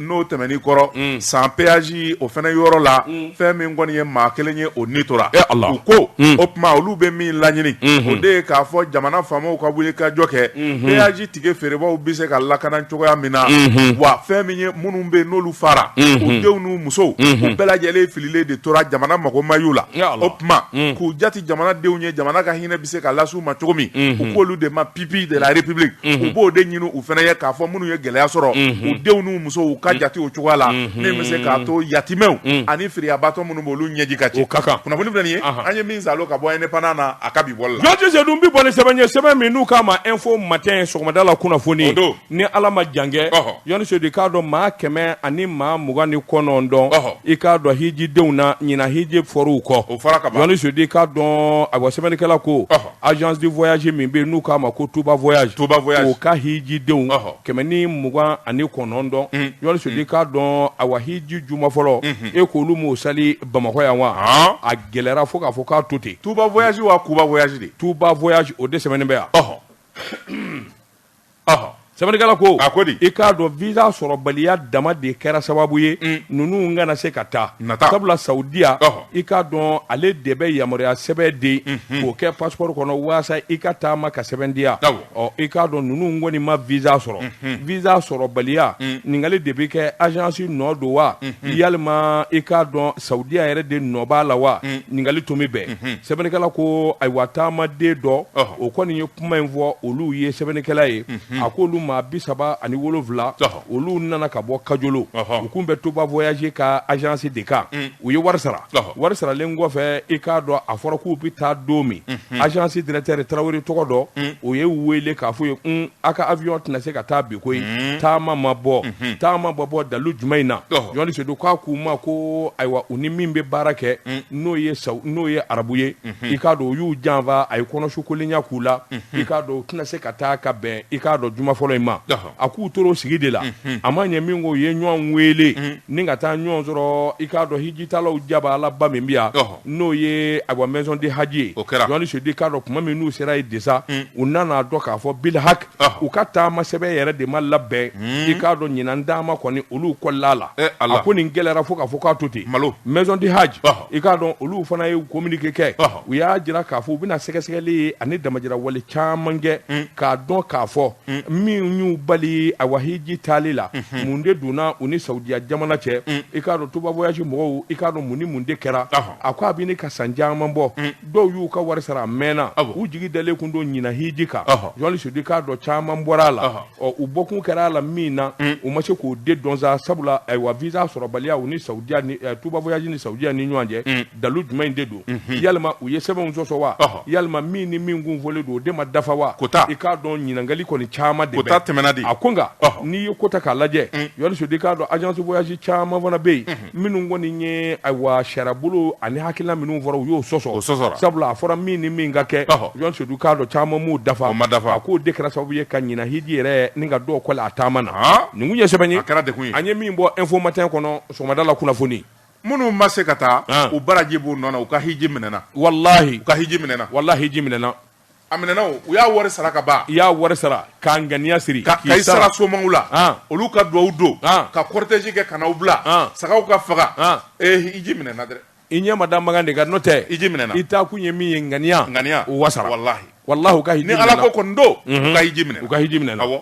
n'o tɛmɛnen kɔrɔ san péage o fɛnɛ yɔrɔ la fɛn min kɔni ye maa kelen ye o ni tora u ko o tuma olu bɛ min laɲini o de ye k'a fɔ jamana faamaw ka wuli ka jɔ kɛ péage tike feerebaw bɛ se ka lakana cogoya min na wa fɛn min ye minnu bɛ n'olu fara u denw n'u musow u bɛɛ lajɛlen fililen de tora jamana mako may la o tuma k'u jate jamanadenw ye jamana ka hinɛ bɛ se ka lase u ma cogo min u k'olu de ma pupilles de la république u b'o de ɲini u fana ye k'a fɔ minnu ye gɛlɛya sɔrɔ u denw n'u musow u ka jate o cogoya la min bɛ se k'a to yatimɛw ani firiyabatɔ minnu b'olu ɲɛji ka cɛ o ka kan kunnafoni filɛ nin ye an ye min salon ka bɔ indépendant na a ka bi bɔli la jɔni sedu n bɛ bɔ ni sɛbɛn ye sɛbɛn min n'u k'a ma info matin sɔgɔmada la kunnafoni don ni ala ma jankɛ jɔni sedu k'a dɔn maa kɛmɛ ani maa mugan ni kɔnɔntɔn i k'a dɔn hijidenw na ɲinan hiji fɔr'u kɔ o fɔra ka ban jɔni sedu k'a dɔn awa sɛbɛnnikɛla ko agence de voyage min bɛ n'u k'a ma ko tuba voyage o ka hijidenw kɛmɛ ni mugan ani kɔnɔntɔn jɔni sedu k'a dɔn awa hiji juma fɔlɔ e k'olu m'o sali bamakɔ yan wa a gɛlɛyara fo k'a fɔ k'a to ten tuba voyage wa kuba voyage de tuba voyage o de sɛbɛnnen bɛ yan sɛbɛnnikɛla ko a ko i k'a dɔn visa sɔrɔbaliya dama de kɛra sababu ye mm. ninnu kana se ka taa sabula saudiya i k'a dɔn ale de bɛ yamaruya sɛbɛn di mm-hmm. k'o kɛ passeport kɔnɔ walasa i ka taama ka sɛmɛntiya i k'a dɔn ninnu kɔni ma visa sɔrɔ mm-hmm. visa sɔrɔbaliya mm. ɲininkali de bɛ kɛ agence nɔ don wa mm-hmm. yalima i k'a dɔn saudiya yɛrɛ de nɔ b'a la wa ɲininkali tun bɛ bɛn sɛbɛnnikɛla ko ayiwa taamaden dɔ o kɔni ye kuma in fɔ olu ye sɛbɛnnikɛla ye a ko olu maa bi saba ani wolonwula olu nana ka bɔ kajolo u kun bɛ tuba voyage ka agence de kan u ye wari sara wari saralen kɔfɛ i k'a dɔn a fɔra k'u bɛ taa don min agence directeur tarawele tɔgɔ dɔ o y'u wele k'a f'u ye un aw ka avion tɛna se ka taa bi koyi mhm. taama ma bɔ mhm. taama ma bɔ dalu jumɛn in na jɔni sedu k'a k'u ma ko ayiwa u ni min bɛ baara kɛ mhm. n'o ye saw n'o ye arabu ye i k'a dɔn u y'u janfa a ye kɔnɔsukolenya k'u la i k'a dɔn u tɛna se ka taa ka bɛn i k'a dɔn juma fɔlɔ in ma a k'u tor'o sigi de la a ma ɲɛ min ko u ye ɲɔgɔn wele ni ka taa ɲɔgɔn sɔrɔ i k'a dɔn hijitaalaw jaba ala ba min bɛ yan n'o ye a maison de haj ye o kɛra jɔnni sedu i k'a dɔn tuma min n'u sera yen de sa u nana a dɔn k'a fɔ bilhak u ka taama sɛbɛn yɛrɛ de ma labɛn i k'a dɔn ɲinan dama kɔni olu kɔlila a la a ko nin gɛlɛyayara fo k'a fɔ k'a to ten malo maison de haj i k'a dɔn olu fana ye kominike kɛ u y'a jira k'a fɔ u bɛna sɛgɛsɛgɛli ye ani damajira wale caman kɛ k'a dɔn k'a fɔ mm. min y'u bali ayiwa hiji taali la mm-hmm. mun de donna u ni saudiya jamana cɛ mm. i k'a dɔn tuba voyage mɔgɔw i k'a dɔn mun ni mun de kɛra a ko a bɛ ɲini ka san caman bɔ mm. dɔw y'u ka wari sara a mɛnna u jigi dalen kun don ɲinan hiji kan jɔnni sedu i k'a dɔn caman bɔra a la ɔ u bɔkun kɛra a la min na u ma se k'o de dɔn sa sabula ayiwa visa sɔrɔbaliya u ni saudiya ni eh, tuba voyage ni saudiya ni ɲɔgɔn cɛ dalu jumɛn de don yalima u ye sɛbɛnw sɔsɔ wa yalima min ni min kun fɔlen don o de ma dafa wa kota i k'a dɔn ɲininkali kɔni caman de kota tɛmɛna de a ko nka n'i ye ko ta k'a lajɛ mm. jɔnni sedu i k'a dɔn agence voyage caman fana bɛ yen mm-hmm. minnu kɔni ye ayiwa sariyabolo ani hakilina minnu fɔra u y'o sɔsɔ o sɔsɔra sabula a fɔra min ni min ka kɛ jɔnni sedu i k'a dɔn caman m'o dafa o ma dafa a k'o de kɛra sababu ye ka ɲinan hiji yɛrɛ nin ka dɔw kɔli a taama na nin kun ye sɛbɛn ye a kɛra dekun ye an ye min bɔ info matin kɔnɔ sɔgɔmada la kunnafoni minnu ma se ka taa An. u baraji b'u nɔ na u ka hiji minɛna walahi u ka hiji minɛna walahi hiji minɛna a minɛna o u y'a wari sara ka ban i y'a wari sara k'a ŋaniya siri ka k'i ka i sara somaw la An. olu ka duwawu don An. ka cortège kɛ ka n'aw bila An. sagaw ka faga An. ee hiji minɛna dɛ i ɲɛ ma da Makan de kan n'o tɛ Hiji minɛna. i taa kun ye min ye ŋaniya ŋaniya o wasara walahi walahi u ka hiji nin minɛna. ala ko kɔni don u ka hiji minɛna u ka hiji minɛna awɔ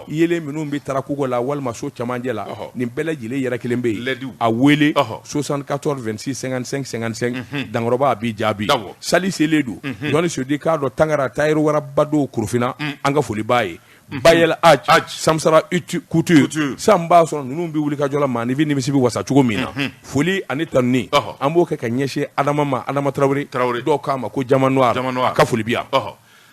yeelen minnu bɛ tara kogo la walima so cɛmancɛ la nin bɛɛ lajɛlen yɔrɔ kelen bɛ yen a wele soixante-quatorze vingt-six cinquante-cinq cinquante-cinq dankɔrɔba b'i jaabi sali selen don jɔnni sedu i k'a dɔn tangara tailleur waraba don korofina an ka foli b'a ye ba el haj samisara couture san b'a sɔrɔ ninnu bɛ wulikajɔ la maaninfin nimisi bɛ wasa cogo min na foli ani tanuni an b'o kɛ ka ɲɛsin adama ma adama tarawele tarawele dɔw k'a ma ko diamant noir an ka foli b'i ye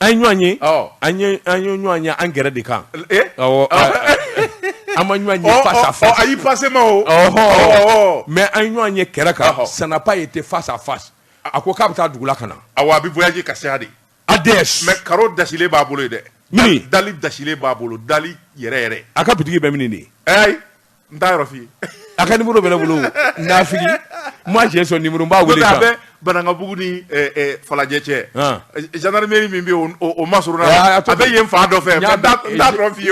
an ɲɔgɔn ye an ye ɲɔgɔn ye an kɛrɛ de kan an ma ɲɔgɔn ye face à face ayi pasema mais an ɲɔgɔn ye kɛrɛ kan ça n'a pas été face à face a ko k'a bɛ taa dugu la ka na a a bɛ voyager ka seya de a mais karo dasilen b'a bolo yen demi dali dasilen b'a bolo dali yɛrɛ yɛrɛ a ka bitigi bɛ min de n t'a yɔrɔ f'i ye a ka nimuru bɛ ne bolo nafigi moi j'ai son numéro n b'a wele a bɛ banankabugu ni falajɛ cɛ gendarmerie min bɛ o masurunna a bɛ yen fan dɔ fɛ n t'a yɔrɔ f'i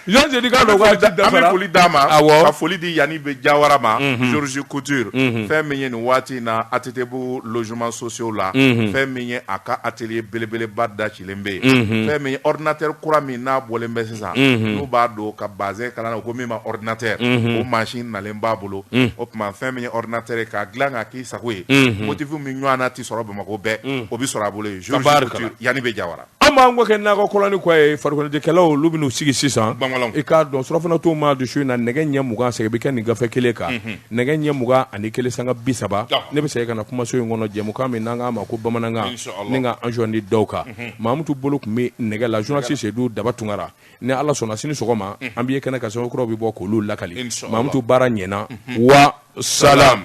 ye ka foli d'a ma ka foli di yanani bɛ jawara ma zouru couture fɛn min ye nin waati in na ATTbugu logements sociaux la fɛn min ye a ka atelier belebeleba da cɛ kelen bɛ yen fɛn min ye ordinateur kura min n'a bɔlen bɛ sisan n'u b'a don ka bazɛn kala n'a ko min ma ordinateur o mansin nalen b'a bolo o tuma fɛn min ye ordinateur ye k'a dilan k'a k'i sago ye motifu min ɲɔgɔnna tɛ sɔrɔ bamakɔ bɛɛ o bɛ sɔrɔ a bolo yen Georges Couture yanni bɛ jawara an b'an kɔ kɛ nakɔ kɔlɔn ni kɔ ye farikoloɲɛnajɛkɛlaw olu bɛn'u sigi sisan i k'a dɔn surɔfana tuma don su in na nɛgɛ ɲɛ mugan segin bɛ kɛ nin gafe kelen kan nɛgɛ ɲɛ mugan ani kelen sanga bi saba ne bɛ segin ka na kumaso in kɔnɔ jɛmukan min n'an k'a ma ko bamanankan ni ka anzɔndi dɔw kan mhm. mamutu bolo tun bɛ nɛgɛ la journaliste Sedu Daba Tunkara ni ala sɔnna sini sɔgɔma mhm. an bɛ ye kɛnɛ kan sɛbɛn kuraw bɛ bɔ k'olu lakali mamutu baara ɲɛna mhm. wa salam